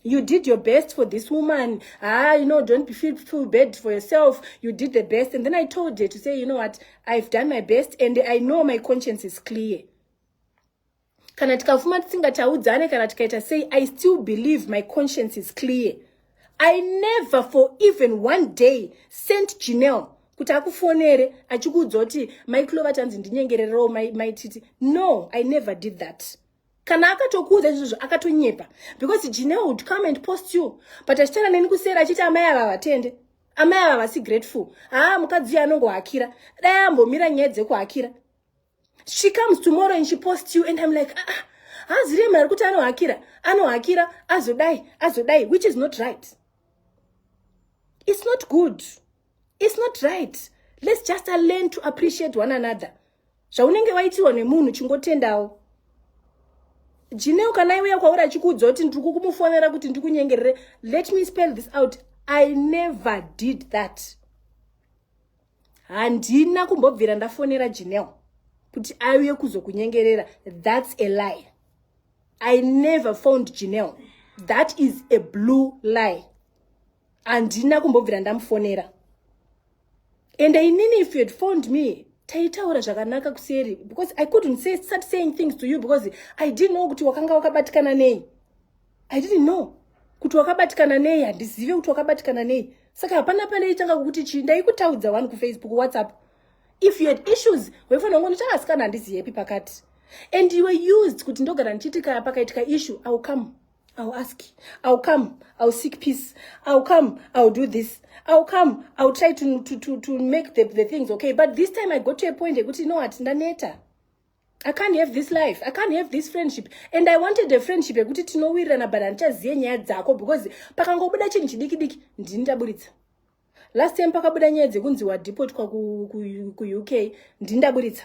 you did your best for this woman ah you know don't be feel, feel bad for yourself you did the best and then i told her to say you know what i've done my best and i know my conscience is clear kana tikafuma tisingataudzane kana tikaita sei i still believe my conscience is clear i never for even one day sent janel kuti akufonere achikuudza kuti mai clova tanzi ndinyengererewo maititi no i never did that kana akatokuudza izvozvo akatonyepa because jineo would come and post you but achitaura neni kuseri achiti amai ava vatende amai ava vasi grateful haa mukadzi uyo anongohakira dai ambomira nyaya dzekuhakira she comes tomorrow and she post you and im like aa ah, ah, hazirei mari kuti anohakira anohakira azodai azodai which is not right it's not good it's not right let's just learn to appreciate one another zvaunenge waitirwa nemunhu chingotendawo jineo kana iuya kwauri achikuudza kuti ndiri kukumufonera kuti ndikunyengerere let me spell this out i never did that handina kumbobvira ndafonera jineo kuti auye kuzokunyengerera thats a lie i never found jineo that is a blue lie handina kumbobvira ndamufonera and inini if you had phoned me taitaura zvakanaka kuseri because i couldn't say, start saying things to you because i didn't know kuti wakanga wakabatikana nei i didn't know kuti wakabatikana nei handizive kuti wakabatikana nei saka hapana pane itanga kukuti chii ndaikutaudza wani kufacebook whatsapp if you had issues waifanira kungo ndichakasikana handiziyepi pakati and you were used kuti ndogara ndichiitika pakaitika issue iwill come I'll ask, I'll come, I'll seek peace, I'll come, I'll do this, I'll come, I'll try to, to, to, to make the, the things okay. But this time I got to a point, you know what, ndaneta. I can't have this life. I can't have this friendship. And I wanted a friendship yekuti tinowirirana but handichaziye nyaya dzako because pakangobuda chinhu chidiki diki ndini ndaburitsa. Last time pakabuda nyaya dzekunzi wadepotwa ku, ku, ku UK ndini ndaburitsa.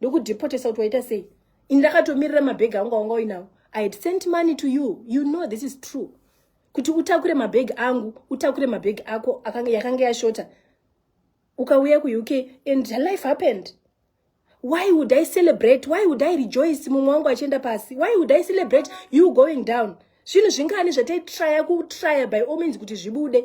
ndokudhipotesa kuti waita sei ini ndakatomirira mabhegi angu awanga uinawo i had sent money to you you know this is true kuti utakure mabhegi angu utakure mabhegi ako yakanga yashota ukauya kuuk and the life happened why would i celebrate why would i rejoice mumwe wangu achienda pasi why would i celebrate you going down zvinhu zvingani zvataitraya kutraya by all means kuti zvibude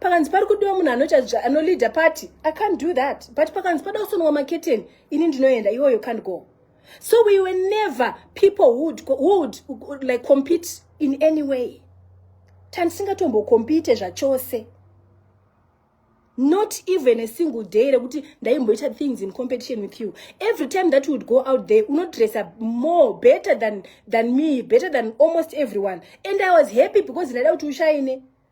pakanzi pari kudiwa munhu anoita anoleader party i can't do that but pakanzi pada kusonwa maketeni ini ndinoenda iwo you can't go so we were never people would, would like compete in any way tandisingatombokompite zvachose not even a single day rekuti ndaimboita things in competition with you every time that would go out there unodressa more better than, than me better than almost everyone and i was happy because ndaida kuti ushaine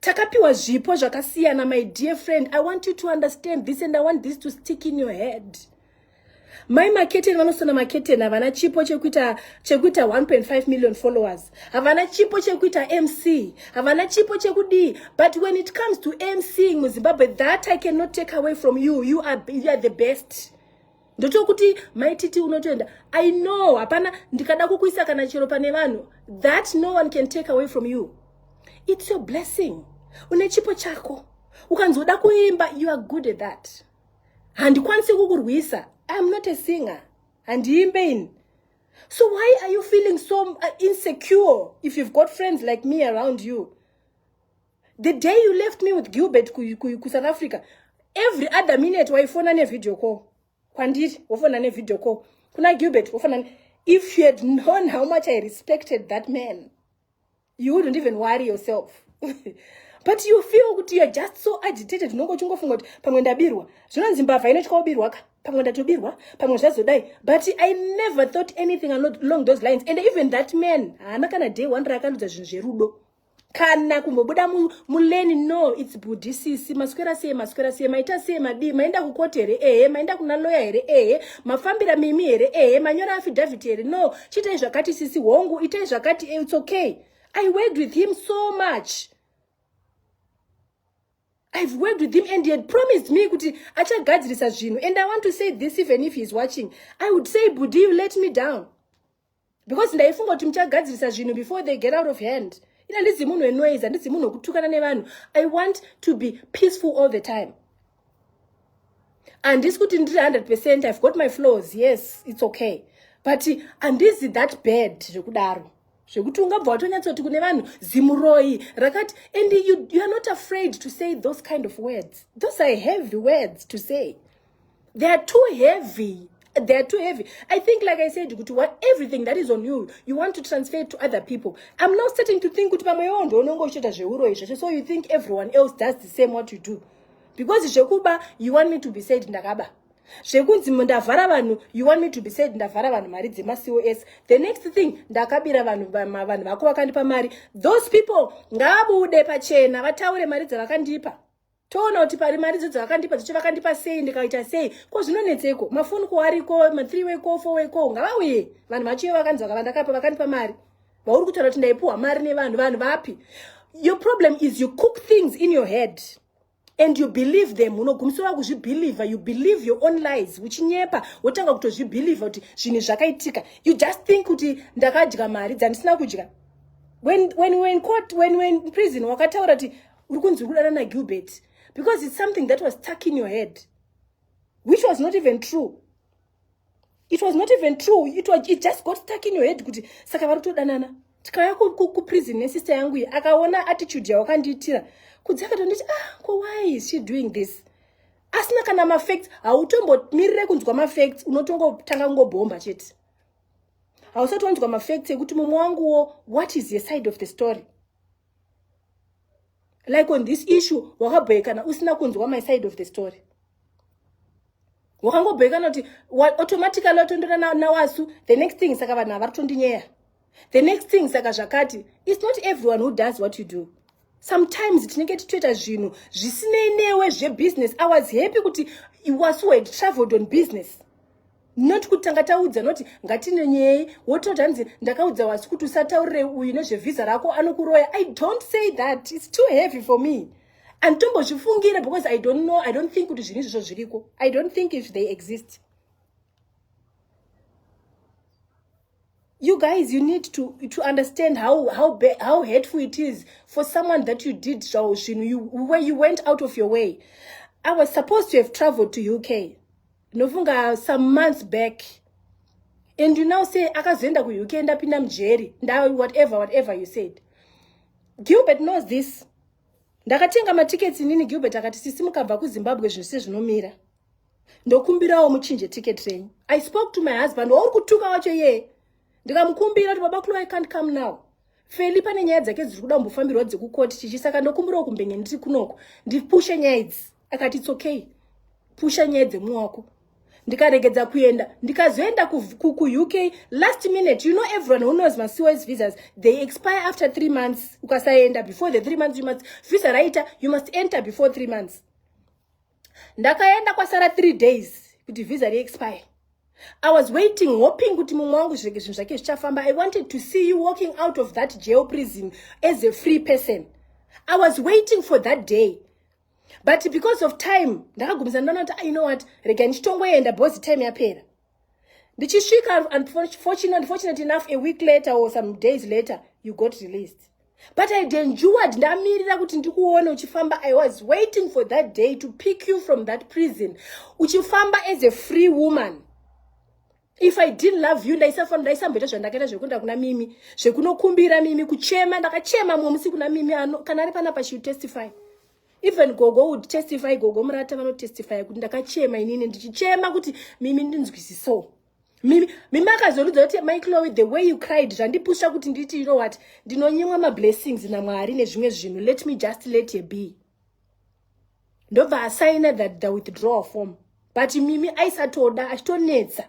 takapiwa zvipo zvakasiyana my dear friend i want you to understand this and i want this to stick in your head mai maketeni vanosona maketeni havana chipo chekuita chekuita 1.5 million followers havana chipo chekuita mc havana chipo chekudii but when it comes to mcing muzimbabwe that i cannot take away from you you are, you are the best ndotokuti maititi unotoenda i know hapana ndikada kukuisa kana chero pane vanhu that no one can take away from you its your blessing une chipo chako ukanzoda kuimba you are good at that handikwanisi kukurwisa iam not a singer handiimbe ini so why are you feeling so uh, insecure if you've got friends like me around you the day you left me with gilbert kusouth africa every other minute waifona nevideo call kwandiri wofona nevideo call kuna gilbert wofona if you had known how much i respected that man you wouldn't even worry yourself but you feel kuti youare just so agitated unonge uchingofunga kuti pamwe ndabirwa zvinonzi mbavha inotya ubirwa ka pamwe ndatobirwa pamwe zvazodai but i never thought anything along those lines and even that man haana kana day one raakanudza zvinhu zverudo kana kumbobuda muleni no its budi sisi maswera sei maswera sei maita sei madii maenda kukoti here ehe maenda kuna loya here ehe mafambira mimi here ehe manyora afidhavhiti here no chiitai zvakati sisi hongu itai zvakati eh, its okay i worked with him so much i've worked with him and he had promised me kuti achagadzirisa zvinhu and i want to say this even if he is watching i would say budi you let me down because ndaifunga kuti muchagadzirisa zvinhu before they get out of hand ina ndizi munhu wenoise handizi munhu wekutukana nevanhu i want to be peaceful all the time handisi kuti ndiri 100 percent ive got my flows yes its okay but handizi that bad zvekudaro zvekuti ungabva watonyatsoti kune vanhu zimuroyi rakati and you, you are not afraid to say those kind of words those are heavy words to say they are too heavy they are too heavy i think like i said kuti what everything that is on you you want to transfer it to other people i'm now starting to think kuti pamwe iwo ndounonge uchiita zveuroyi zvacho so you think everyone else does the same what you do because zvekuba you want me to be said ndakaba zvekunzi ndavhara vanhu you want me to be said ndavhara vanhu mari dzemacos the next thing ndakabira vanhu vanhu vako vakandipa mari those people ngavabude pachena vataure mari dzavakandipa toona kuti pari mari dzodzo vakandipa dzocho vakandipa sei ndikaita sei ko zvinonetseko mafoni ko ariko mathree way ko four way ko ngavauye vanhu vachiyo vakanzi vakava ndakapa vakandipa mari vauri kutaura kuti ndaipuhwa mari nevanhu vanhu vapi your problem is you cook things in your head and you believe them unogumisira wakuzvibhilivha you believe your own lies uchinyepa wotanga kutozvibhilivha kuti zvinhu zvakaitika you just think kuti ndakadya mari dzandisina kudya when, when, when, court, when, when prison wakataura kuti uri kunzi uri kudana nagilbert because its something that was stuck in your head which was not even true it was not even true it, was, it just got stuck in your head kuti saka vari kutodanana tikauya kuprison nesister yangu iyi akaona attitude yawakandiitira kudzi akatonditi ah ko why is she doing this asina kana mafacts hautombomirire kunzwa mafacts unotongotanga kungobhomba chete hausati wanzwa mafacts ekuti mumwe wanguwo what is ye side of the story like on this issue wakabhoekana usina kunzwa my side of the story wakangobhoekana kuti automatically watondora nawasu the next thing saka vanhu havaritondinyeya the next thing saka zvakati its not everyone who does what you do sometimes tinenge titoita zvinhu zvisinei newe zvebusiness i was happy kuti wasu had traveled on business not kuti tanga taudza noti ngatinenyeyi wotoda hanzi ndakaudza wasi kuti usataurire uyu nezvevhiza rako anokuroya i don't say that its too heavy for me anditombozvifungire because i don't know i don't think kuti zvinhu izvozvo zviriko i don't think if they exist you guys you need to to understand how how how hateful it is for someone that you did so you know you where you went out of your way i was supposed to have traveled to uk nofunga some months back and you now say akazoenda kuuk ndapinda mujeri nda whatever whatever you said gilbert knows this ndakatenga matickets inini gilbert akati sisi mukabva kuzimbabwe zvinhu sezvinomira ndokumbirawo muchinje ticket renyu i spoke to my husband wauri kutuka wacho yee ndikamukumbira kuti baba kulo i can't come now feli pane nyaya dzake dziri kuda kumbofambirwa dzekukoti chichi saka ndokumbirawo kumbenge ndiri kunoko ndipushe nyaya idzi akati its okay pusha nyaya dzemumwe wako ndikaregedza kuenda ndikazoenda kuuk last minute you know everyone who knows macoes visas they expire after three months ukasaenda before the three months you must visa raita you must enter before three months ndakaenda kwasara three days kuti visa reexpire i was waiting hoping kuti mumwe wangu zvinenge zvinhu zvake zvichafamba i wanted to see you walking out of that jail prison as a free person i was waiting for that day but because of time ndakagumisa ndona kuti i ah, know what rega ndichitongoenda bhozi time yapera ndichisvika unfortunately enough a week later or some days later you got released but i denjured ndamirira kuti ndikuone uchifamba i was waiting for that day to pick you from that prison uchifamba as a free woman if i didn't love you ndaisafanira ndaisamboita zvandakaita zvekuenda kuna mimi zvekunokumbira mimi kuchema ndakachema mumwe musi kuna mimi ano kana ari panapa she testify even gogo would testify gogo murata vanotestifya kuti ndakachema inini ndichichema kuti mimi ndinzwisiso mimi mimi akazorudza kuti mai cloe the way you cried zvandipusha kuti nditi you know what ndinonyimwa mablessings namwari nezvimwe zvinhu let me just let ye be ndobva asaina that the withdrawal form but mimi aisatoda achitonetsa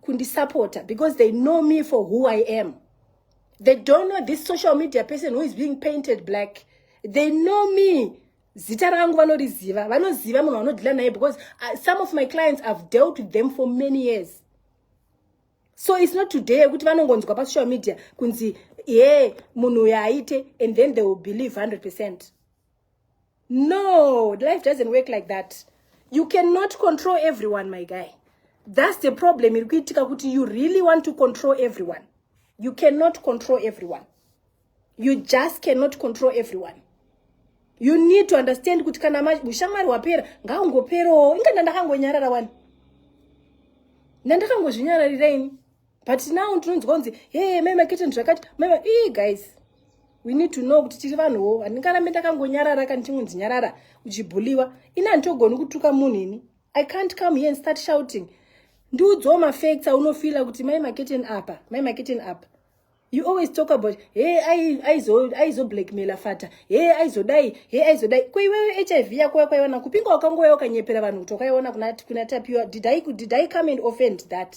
kundisapota because they know me for who i am they don't know this social media person who is being painted black they know me zita rangu vanoriziva vanoziva munhu vanodhila naye because uh, some of my clients have dealt with them for many years so it's not today yekuti vanongonzwa pasocial media kunzi ye munhu uyo aite and then they will believe 100 percent no life doesn't work like that you cannot control everyone my guy that's the problem iri kuitika kuti you really want to control everyone you cannot control everyone you just cannot control everyone you need to understand kuti kana ushamwari hwapera ngaungoperowo inga ndandakangonyarara wani ndandakangozvinyararira ini but now ndinonzwa kunzi hee mai makete ndizvakati mai ii guys we need to know kuti tiri vanhuwo handingarambe ndakangonyarara kana chingonzi nyarara uchibhuliwa ini handitogoni kutuka munhu ini i can't come here and start shouting ndiudzawo mafacts aunofila kuti mai maketen apa mai maketen apa you always talk about he aizoblackmaila fata he aizodai he aizodai ko iwewe h i v yako yakwaiona kupinga wakangouya ukanyepera vanhu kuti wakaiona kuna tapiwa did i come and offend that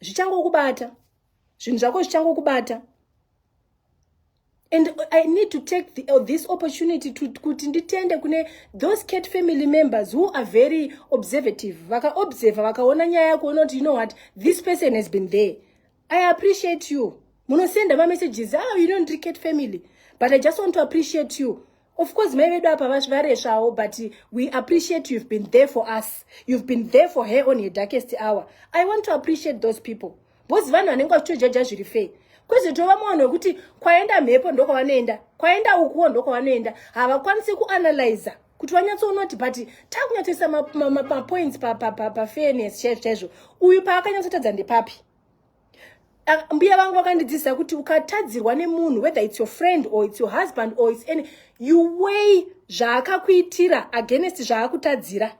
zvichangokubata zvinhu zvako zvichangokubata and i need to take the, uh, this opportunity to kuti nditende kune those cat family members who are very observative vakaobserva vakaona nyaya yako ona kuti you know what this person has been there i appreciate you munosenda mamessages ah you know ndiri cat family but i just want to appreciate you Of course, mai vedu apa varesvawo but we appreciate you've been there for us. You've been there for her on her darkest hour. I want to appreciate those people. Both vanhu vanenge vachitojaja zviri fei kwezve tova munhu wekuti kwaenda mhepo ndokwavanoenda kwaenda ukuwo ndokwavanoenda havakwanisi kuanalyza kuti vanyatsoonoti but takunyatsoisa mapoints pafairness chaizvo chaizvo uyu paakanyatsotadza ndepapi mbuya vangu vakandidzidzisa kuti ukatadzirwa nemunhu whether its your friend or its your husband or its any you way zvaakakuitira against zvaakutadzira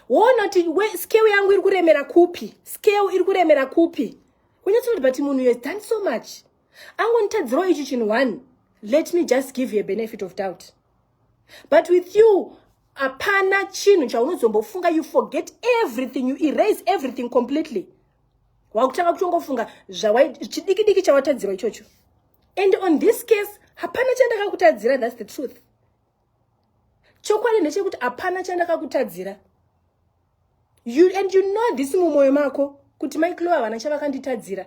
woona kuti scale yangu iri kuremera kupi scale iri kuremera kupi unyatsokuti but munhu has done so much angonditadzirawo ichi chinhu one let me just give you a benefit of doubt but with you hapana chinhu chaunozombofunga you forget everything you erase everything completely wakutanga kutongofunga chidiki diki chawatadzirwa ichocho and on this case hapana chandakakutadzira thats the truth chokwadi ndechekuti hapana chandakakutadzira you and you know this mumwoyo mako kuti maiklo havana chavakanditadzira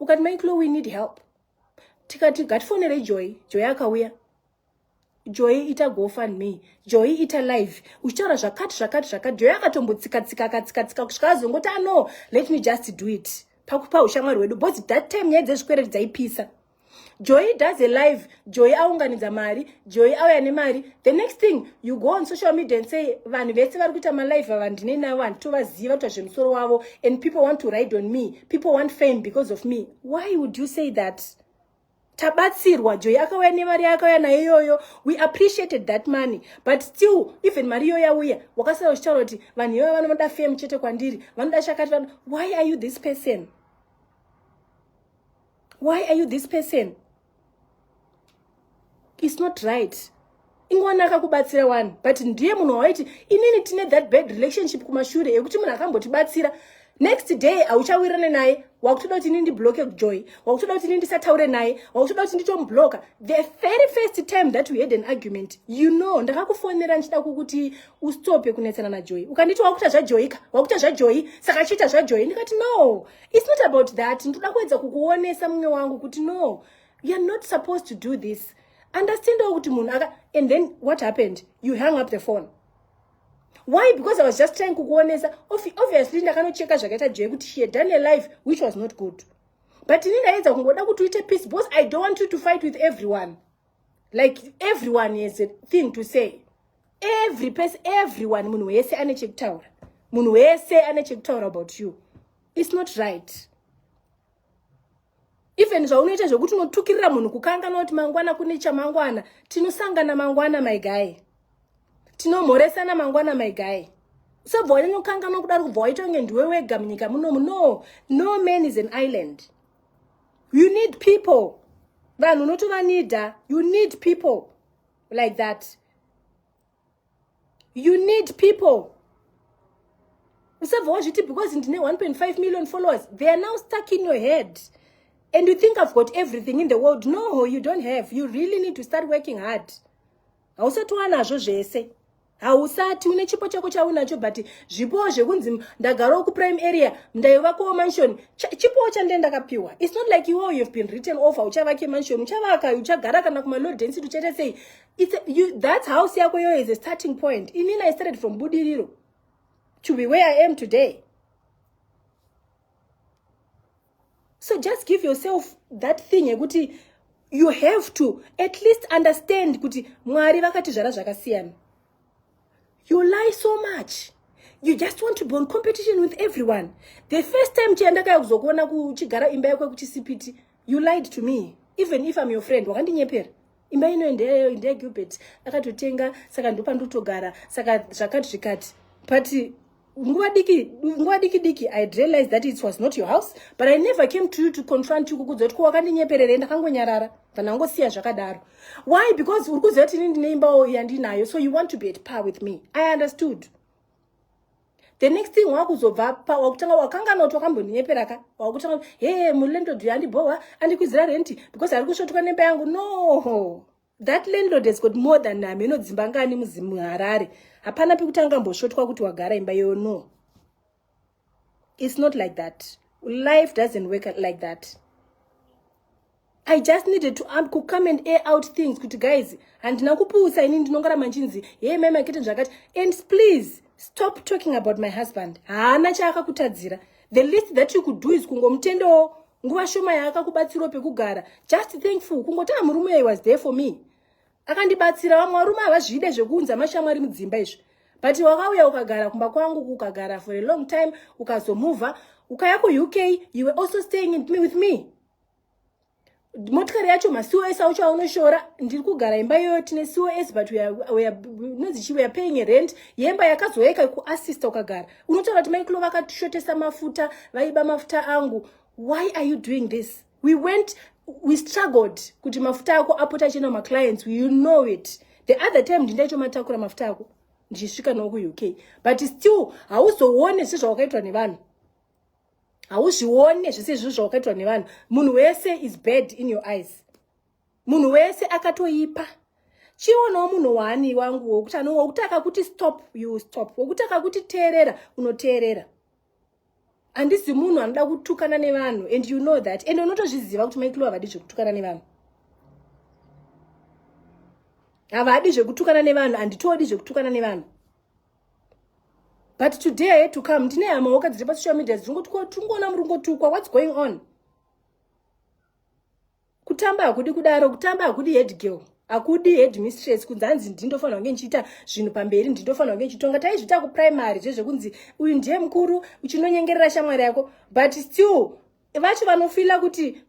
ukati mai clo we need help tikati ngatifonerei joy joy akauya joy ita gofan me joy ita live uchitaura zvakati zvakati zvakati joy akatombotsikatsika akatsikatsika kusvika azongoti ano ah, let me just do it pakupa ushamwari hwedu bcause that time nyaya dzezvikwereti dzaipisa joy does a live joy aunganidza mari joy auya nemari the next thing you go on social media and say vanhu vese vari kuita malive ava ndine navo handitovaziva kuita zvemusoro wavo and people want to ride on me people want fame because of me why would you say that tabatsirwa joy akauya nemari yaakauya nayo iyoyo we appreciated that money but still even mari iyoyo yauya wakasara uchitaura kuti vanhu iyoyo vanoda fame chete kwandiri vanoda chakati why are you this person why are you this person its not right ingwana akakubatsira wani but ndiye munhu wawaiti inini tine that bad relationship kumashure yekuti munhu akambotibatsira next day hauchawirane naye wakutoda kuti ini ndibloke joy wakutoda kuti ini ndisataure naye wakutoda kuti nditomubloka the very first time that we had an argument you know ndakakufonera ndichida kukuti ustope kunetsana najoy ukanditi wakuita zvajoyika wakuita zvajoyi saka chiita zvajoyi ndikati no It's not about that. Ndoda kuedza kukuonesa mumwe wangu kuti no, you are not supposed to do this. Understand kuti munhu aka and then what happened? You hang up the phone. Why? Because I was just trying kukuonesa. Obviously ndakanocheka zvakaita Joy kuti she had done a life which was not good. But ini ndaedza kungoda kuti uite peace because I don't want you to fight with everyone. like everyone has a thing to say every person everyone munhu wese ane chekutaura munhu wese ane chekutaura about you its not right even zvaunoita zvekuti unotukirira munhu kukangana kuti mangwana kune chamangwana tinosangana mangwana my guy tinomhoresana mangwana my guy usabva wanyanya kukanganwa kudaro kubva waita kunge ndiwe wega munyika munomu no no man is an island you need people vanhu unotovanida you need people like that you need people usabva wazviti because ndine 1.5 million followers they are now stuck in your head and you think i've got everything in the world no you don't have you really need to start working hard hausati wanazvo zvese hausati une chipo chako chaunacho but zvipowo zvekunzi ndagarawo kuprime area ndaivakowo mansion chipowo chandee ndakapiwa its not like iwo youhave been written off hauchavake mansion uchavaka uchagara kana kumalow density uchaita sei thats house yako iyoyo is a starting point inini i started from budiriro to be where i am today so just give yourself that thing yekuti you have to at least understand kuti mwari vakatizvara zvakasiyana you lie so much you just want to be on competition with everyone the first time chiya ndakaya kuzokuona kuchigara imba yako yekuchisipiti you lied to me even if im your friend wakandinyepera imba ino ndeyeyo ndeye gilbert akatotenga saka ndopandotogara saka zvakati zvikati but nguva diki nguva diki diki i realized that it was not your house but i never came to you to confront you kukudza kuti ko wakandinyepererei ndakangonyarara ndangosiya zvakadaro why because uri kuziva kuti ini ndine imbawo yandinayo so you want to be at par with me i understood the next thing wakuzobva pa wakutanga wakanganwa kuti wakambondinyepera ka wakutanga kuti he mulandlord uyu andibhohwa andikwizira renti because ari kusvotuka nemba yangu no that landlord has got more than hameno dzimba ngani muharare hapana pekuti angambosvotwa kuti wagara imba iyoyo no it's not like that life doesn't work like that i just needed to um, kucome and air out things kuti guys handina kupusa ini ndinongara manchinzi hee mai makete zvakati and please stop talking about my husband haana chaakakutadzira the least that you could do is kungomutendawo nguva shoma yaakakubatsirawo pekugara just thankful kungotaa murume uyo was there for me akandibatsira vamwe varume havazvide zvekuunza mashamwari mudzimba izvi but wakauya ukagara kumba kwangu ukagara for a long time ukazomover ukaya kuuk you were also staying in me with me motikari yacho macos aucho aunoshora ndiri kugara imba iyoyo tine cos but inonzi chi weare paying rent yemba yakazoeka kuassista ukagara unotaura kuti maiklo vakashotesa mafuta vaiba mafuta angu why are you doing this we went we struggled kuti mafuta ako apota achienda kumaclients you know it the other time ndindaicho matakura mafuta ako ndichisvika noo kuuk but still hauzoone sezvawakaitwa nevanhu hauzvione zvese izvozvo zvawakaitwa nevanhu munhu wese is bad in your eyes munhu wese akatoipa chionawo munhu waani wangu wokuti ano wokuti akakuti stop you stop wokuti akakuti teerera unoteerera handisi munhu anoda kutukana nevanhu and you know that and unotozviziva kuti maikilo havadi zvekutukana nevanhu havadi zvekutukana nevanhu handitodi zvekutukana nevanhu but today i had to come ndine hama woka dziri pasocial media dzirikutukwa tingoona muri kungotukwa whats going on kutamba hakudi kudaro kutamba hakudi head girl hakudi head mistress kunzi hanzi ndindofanira kunge ndichiita zvinhu pamberi ndindofanira kunge ndichitonga taizviita kuprimary zvezvekunzi uyu ndiye mukuru uchinonyengerera shamwari yako but still vacho vanofila kuti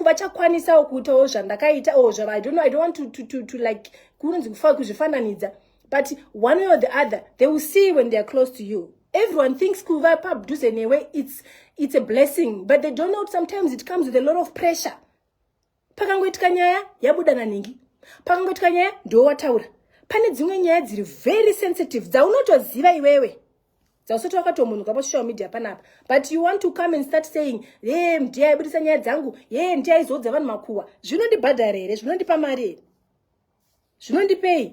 vachakwanisawo kuitawo zvandakaita or zvava i don't know i don't want to, to, to, to like kunonzi kufa kuzvifananidza but one way or the other they will see when they are close to you everyone thinks kuva padhuze newe it's, it's a blessing but they don't know sometimes it comes with a lot of pressure pakangoitika nyaya yabuda nanhingi pakangoitika nyaya ndiwo wataura pane dzimwe nyaya dziri very sensitive dzaunotoziva iwewe dzausati wakatomunuka pasocial media panapa but you want to come and start saying ye mdi aibudisa nyaya dzangu ye mdi aizoudza vanhu makuwa zvinondibhadhara here zvinondipa mari here zvinondipei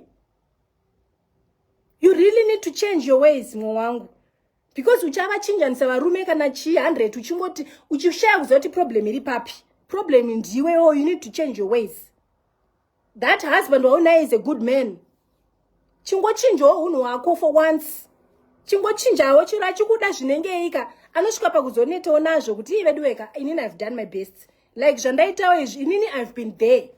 you really need to change your ways mwe wangu because uchavachinjanisa varume kana chii 100 uchingoti uchishaya kuziva kuti problem iri papi problem ndiwe o oh, you need to change your ways that husband waunaye is a good man chingochinjawo unhu hwako for once chingochinjawo chiro achikuda zvinengeika anosvika pakuzonetawo nazvo kuti ii veduweka inini ihave done my best like zvandaitawo izvi inini ihave been there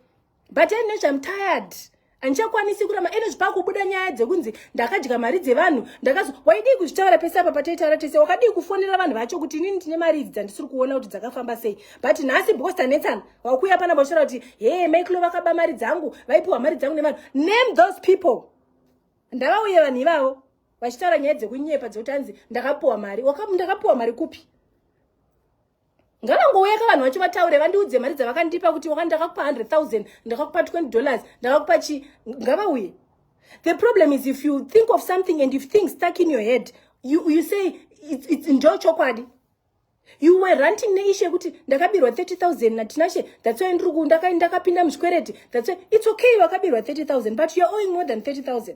but anyway i'm tired handichakwanisi kurama ene zvipakubuda nyaya dzekunzi ndakadya mari dzevanhu ndakazo waidii kuzvitaura pese apa pataitaura tese wakadii kufonera vanhu vacho kuti inini ndine mari idzi dzandisiri kuona kuti dzakafamba sei but nhasi because tanetsana wakuuya pana boshora kuti hee maiklo vakaba mari dzangu vaipiwa mari dzangu nevanhu name those people ndavauye vanhu ivavo vachitaura nyaya dzekunyepa dzekuti anzi ndakapiwa mari ndakapiwa mari kupi ngavangouyaka vanhu vacho vataure vandiudze mari dzavakandipa kuti wakani ndakakupa 100000 ndakakupa 20 dollars ndakakupa chi ngavauye the problem is if you think of something and if things stuck in your head you, you say ndo chokwadi you were ranting neishe yekuti ndakabirwa 30000 natinashe that's why ndiri kundaka ndakapinda muzvikwereti that's why it's okay wakabirwa 30000 but you're owing more than 30000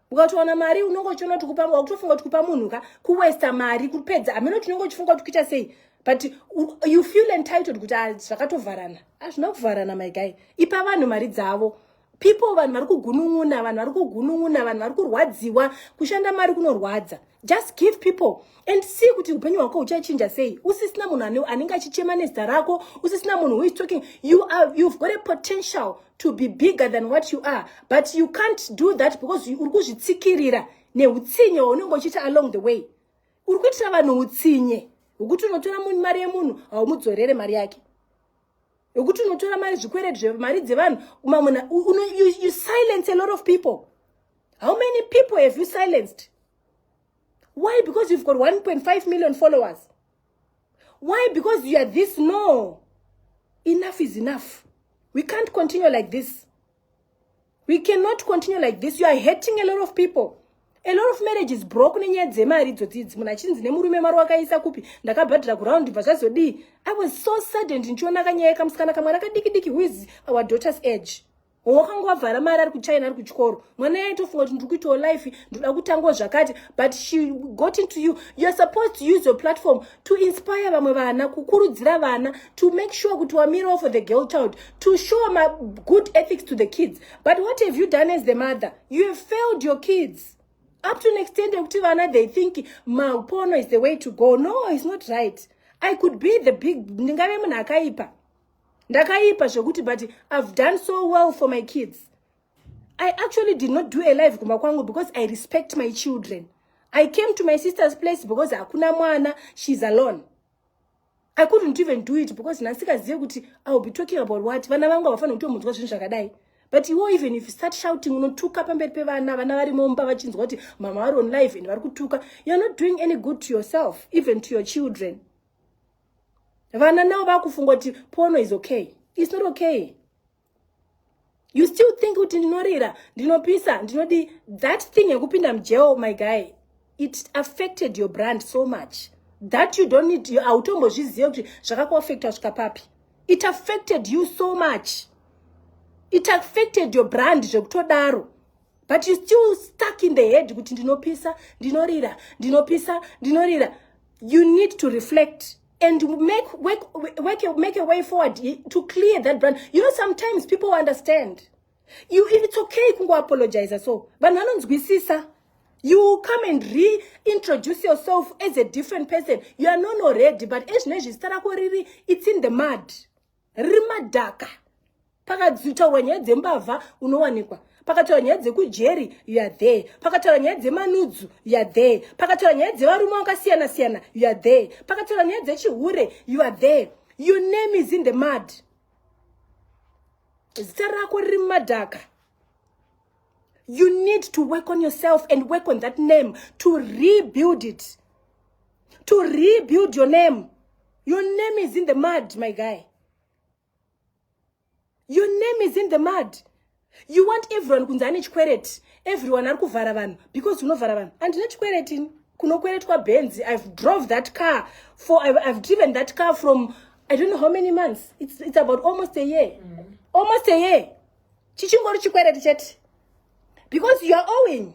ukatowana mari unenge uchiona kuti kupa wakutofunga kuti kupa munhu ka kuwesta mari kupedza hameno kuti unenge uchifunga kuti kuita sei but you feel entitled kuti ah, zvakatovharana hazvina ah, kuvharana my guy ipa vanhu mari dzavo people vanhu vari kugunun'una vanhu vari kugunun'una vanhu vari kurwadziwa kushanda mari kunorwadza just give people and see kuti upenyu hwako huchachinja sei usisina munhu anenge achichema nezita rako usisina munhu who is talking you are, you've got a potential to be bigger than what you are but you can't do that because uri kuzvitsikirira neutsinye waunenge uchiita along the way uri kuitira vanhu utsinye hwekuti unotora mari yemunhu haumudzorere mari yake hwekuti unotora mari zvikwereti zvemari dzevanhu mamuna you, you silence a lot of people How many people have you silenced? Why? Because you've got 1.5 million followers. Why? Because you are this. No. Enough is enough. We can't continue like this. We cannot continue like this. You are hurting a lot of people. A lot of marriage is broken nenyaya dzemari idzodzidzi munhu achinzi nemurume mari wakaisa kupi ndakabhadhira kuround bva zvazodii i was so saddened ndichiona kanyaya kamusikana kamwana kadiki diki who is our daughter's age wakanga wavhara mari ari kuchina ari kuchikoro mwana yaitofunga kuti ndiri kuitawo life ndoda kutangawo zvakati but she got into you youare supposed to use your platform to inspire vamwe vana kukurudzira vana to make sure kuti wamirawo for the girl child to show ma good ethics to the kids but what have you done as the mother you have failed your kids up to an extent yekuti vana they think mapono is the way to go no is not right i could be the big ndingave munhu akaipa ndakaipa zvekuti but i've done so well for my kids i actually did not do a live kumba kwangu because i respect my children i came to my sister's place because hakuna mwana she's alone i couldn't even do it because ndasikazive kuti iwill be talking about what vana vangu havafanira kutomunzwa zvinhu zvakadai but iwo even if you start shouting unotuka pamberi pevana vana vari mumba vachinzwa kuti mama vari on live and vari kutuka youare not doing any good to yourself even to your children vana navo vakufunga kuti pono is okay is not okay you still think kuti ndinorira ndinopisa ndinodi that thing yekupinda mujeo my guy it affected your brand so much that you don't need hautombozvizive kuti zvakakuaffecta svika papi it affected you so much it affected your brand zvekutodaro but you still stuck in the head kuti ndinopisa ndinorira ndinopisa ndinorira you need to reflect and make, work, work, make a way forward to clear that brand you know sometimes people understand you, it's okay kungoapologiza so vanhu vanonzwisisa you come and reintroduce yourself as a different person you are non already but ezvino izvi zita rako riri it's in the mud rimadhaka pakadzitaurwa nyaya dzembavha unowanikwa pakataura nyaya dzekujeri youare there pakataura nyaya dzemanudzu youare there pakataura nyaya dzevarume vakasiyana siyana youare there pakataura nyaya dzechihure youare there your name is in the mud zita rako riri mumadhaka you need to work on yourself and work on that name to rebuild it to rebuild your name your name is in the mud my guy your name is in the mud you want everyone kunzi ane chikwereti everyone ari kuvhara vanhu because unovhara vanhu andina chikweretini kunokweretwa benzi i've drove that car for I've, i've driven that car from i don't know how many months it's, it's about almost a year mm. almost a year chichingori chikwereti chete because youare owing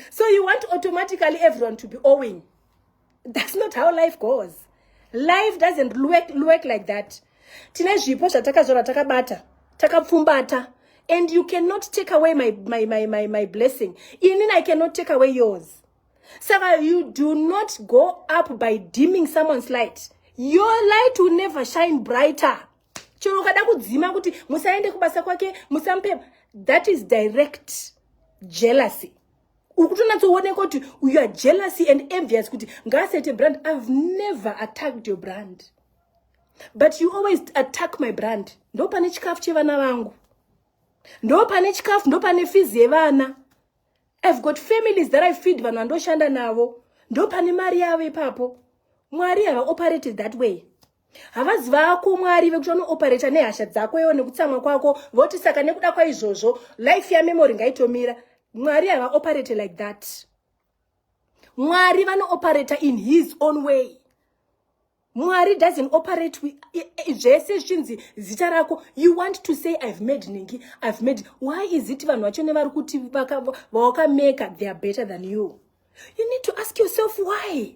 so you want automatically everyone to be owing that's not how life goes life doesn't work, work like that tine zvipo zvatakazvara takabata takapfumbata and you cannot take away my, my, my, my, my blessing inin i cannot take away yours saka you do not go up by dimming someone's light your light will never shine brighter chero ukada kudzima kuti musaende kubasa kwake musamupe that is direct jealousy ukutonatsooneka kuti you are jealousy and envious kuti ngaasete brand i've never attacked your brand but you always attack my brand ndo pane chikafu chevana vangu ndo pane chikafu ndo pane fizi yevana i've got families that i feed vanhu vandoshanda navo ndo pane mari yavo ipapo mwari hava operated that way havazi vako mwari vekuti vanooperata nehasha dzako iwo nekutsamwa kwako voti saka nekuda kwaizvozvo life yamemory ngaitomira mwari havaoperate like that mwari vanooperata in his own way mwari doesn't operate zvese zvichinzi zita rako you want to say i've made ningi i've made why is it vanhu vacho nevari kuti vawakameka they are better than you you need to ask yourself why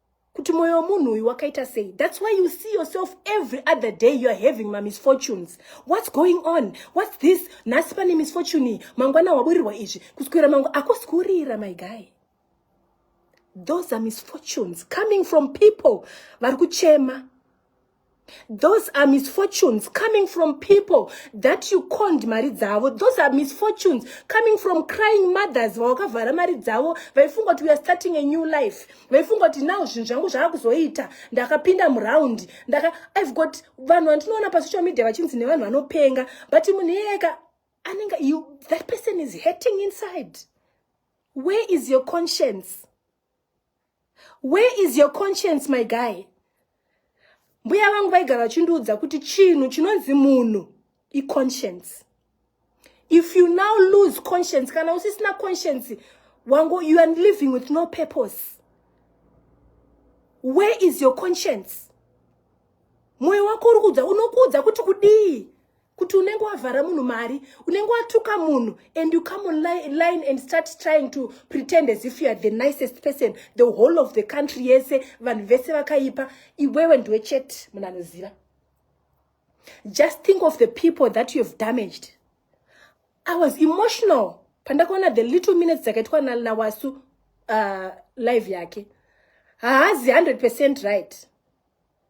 kuti moyo wemunhu uyu wakaita sei thats why you see yourself every other day youare having mamisfortunes whats going on whats this nhasi pane misfortune mangwana waburirwa izvi kuswera mangu akosi kurira my guy those are misfortunes coming from people vari kuchema Those are misfortunes coming from people that you conned mari dzavo. Those are misfortunes coming from crying mothers vawakavhara mari dzavo vaifunga kuti we are starting a new life vaifunga kuti now zvinhu zvangu zvava kuzoita ndakapinda muraundi ndaka i've got vanhu vandinoona pasocial media vachinzi nevanhu vanopenga but munhu iyeka anenge you that person is hurting inside where is your conscience where is your conscience my guy mbuya vangu vaigara vachindiudza kuti chinhu chinonzi munhu iconscience if you now lose conscience kana usisina conscience wangu you are living with no purpose where is your conscience mwoyo wako uri kuudza unokuudza kuti kudii kuti unenge wavhara munhu mari unenge watuka munhu and you come online and start trying to pretend as if you are the nicest person the whole of the country yese vanhu vese vakaipa iwewe ndiwe chete munhu anoziva just think of the people that you have damaged i was emotional pandakaona the little minutes dzakaitwa nawasu uh, live yake haazi 100 percent right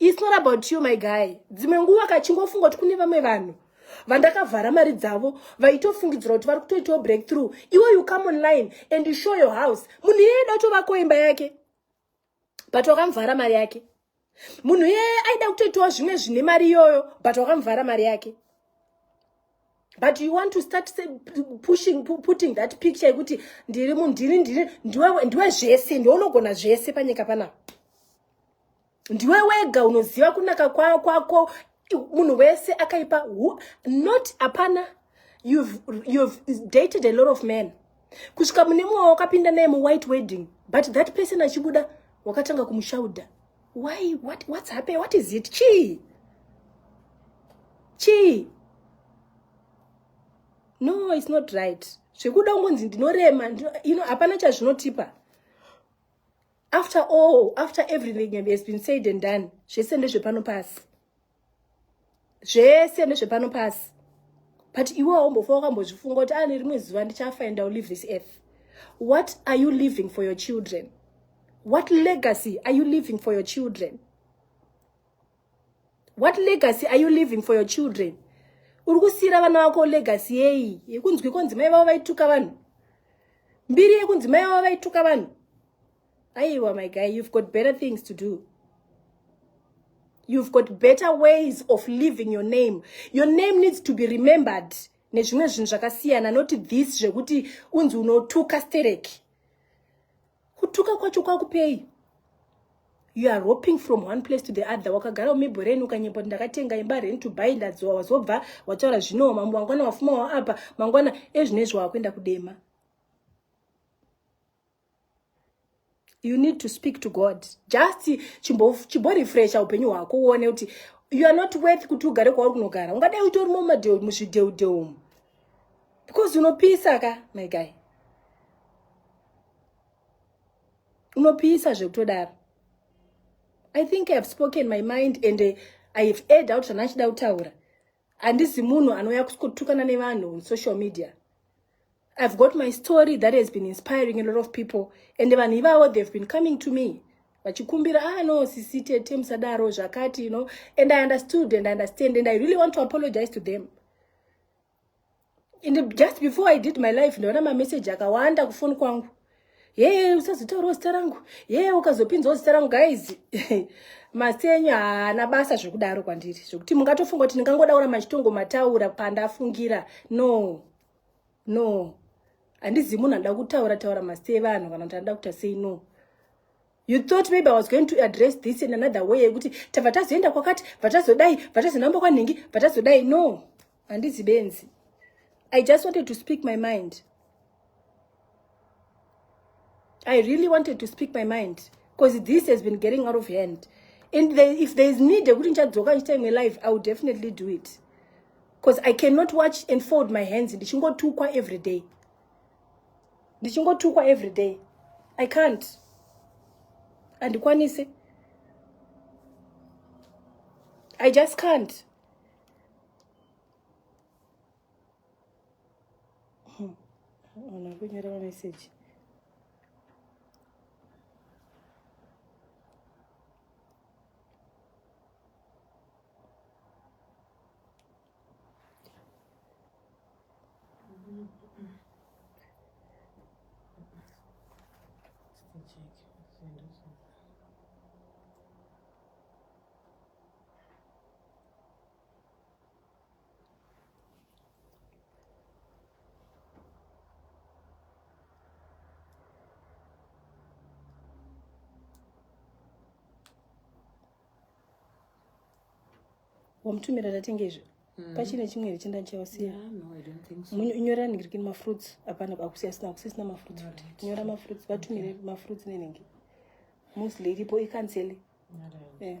It's not about you my guy. Dzimwe nguva kachingofunga kuti kune vamwe vanhu vandakavhara mari dzavo vaitofungidzira kuti vari kutoitawo breakthrough iwe you come online and you show your house munhu iyeye aida kutovako imba yake but wakamuvhara mari yake munhu iyeye aida kutoitawo zvimwe zvine mari iyoyo but wakamuvhara mari yake but you want to start say, pushing putting that picture yekuti ndiri munhu ndiri ndiri ndiwe ndiwe zvese ndiwe unogona zvese panyika panapa ndiwe wega unoziva kunaka kwako kwa, munhu wese akaipa who, not apana you've, you've dated a lot of men kusvika mune mumwe wakapinda naye muwhite wedding but that person achibuda wakatanga kumushaudha why what, what's happening what is it chii chii no it's not right zvekuda ungonzi ndinorema you know hapana chazvinotipa after all after everything has been said and done zvese ndezvepano pasi zvese nezvepano pasi but iwe waumbofa wakambozvifunga kuti ane ah, rimwe zuva ndichafa and ill live this earth what are you living for your children what legacy are you living for your children what legacy are you living for your children uri kusiyira vana vako legacy yei yekunzwi konzi mai vavo vaituka vanhu mbiri yekunzi mai vavo vaituka vanhu aiwa my guy you've got better things to do you've got better ways of living your name your name needs to be remembered nezvimwe zvinhu zvakasiyana not this zvekuti unzi unotuka stereki kutuka kwacho kwakupei you are roping from one place to the other wakagara umibhoreni ukanyepa kuti ndakatenga imba rent to buy ndadziwa wazobva wataura zvinowo mambo mangwana wafuma waapa mangwana ezvino izvo wakuenda kudema you need to speak to god just chimborefresha upenyu hwako uone kuti you are not worth kuti ugare kwauri kunogara ungadai utori mumadheu muzvidheudheu umu because unopisa ka my guy unopisa zvekutodaro i think ihave spoken my mind and eh, i have aid out zvanachida kutaura handisi munhu anouya kuskotukana nevanhu on social media I've got my story that has been inspiring a lot of people and vanhu ivavo they've been coming to me vachikumbira ah no sisi tete musadaro zvakati you know and i understood and I understand and i really want to apologize to them and just before i did my life ndaona mameseji akawanda kufoni kwangu yee usazotaurawo zita rangu yee ukazopinzawo zita rangu guys masenyu haana basa zvekudaro kwandiri zvekuti mungatofunga kuti ndingangodaura machitongo mataura pandafungira no no handizi munhu anoda kutaura taura masti evanhu kana kuti anoda kuita sei no you thought maybe i was going to address this in another way yekuti tabva tazoenda kwakati bva tazodai bva tazonamba kwanhingi bva tazodai no handizi benzi i just wanted to speak my mind I really wanted to speak my mind because this has been getting out of hand. And they, if there is need, yekuti ndichadzoka ndichita imwe live, I will definitely do it. Because I cannot watch and fold my hands ndichingotukwa every day. Ndichingotukwa every day. I can't. Andikwanise. I just can't. Ona kunyora ma message. wamutumira ndatenge izvi mm. pachine chimwe here chenda ndichausiya nyora ningirikini mafruits hapana akusiya sina kusisina mafruits futi nyora mafruits vatumire mafruits nenenge mostly iripo icancele yeah.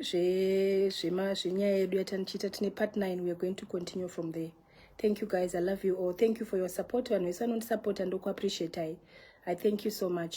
zvenyaya yedu yatanichiita tine part 9 weare going to continue from there thank you guys i love you all thank you for your support vanhu vese vanondisupporta ndokuappreciatai i thank you so much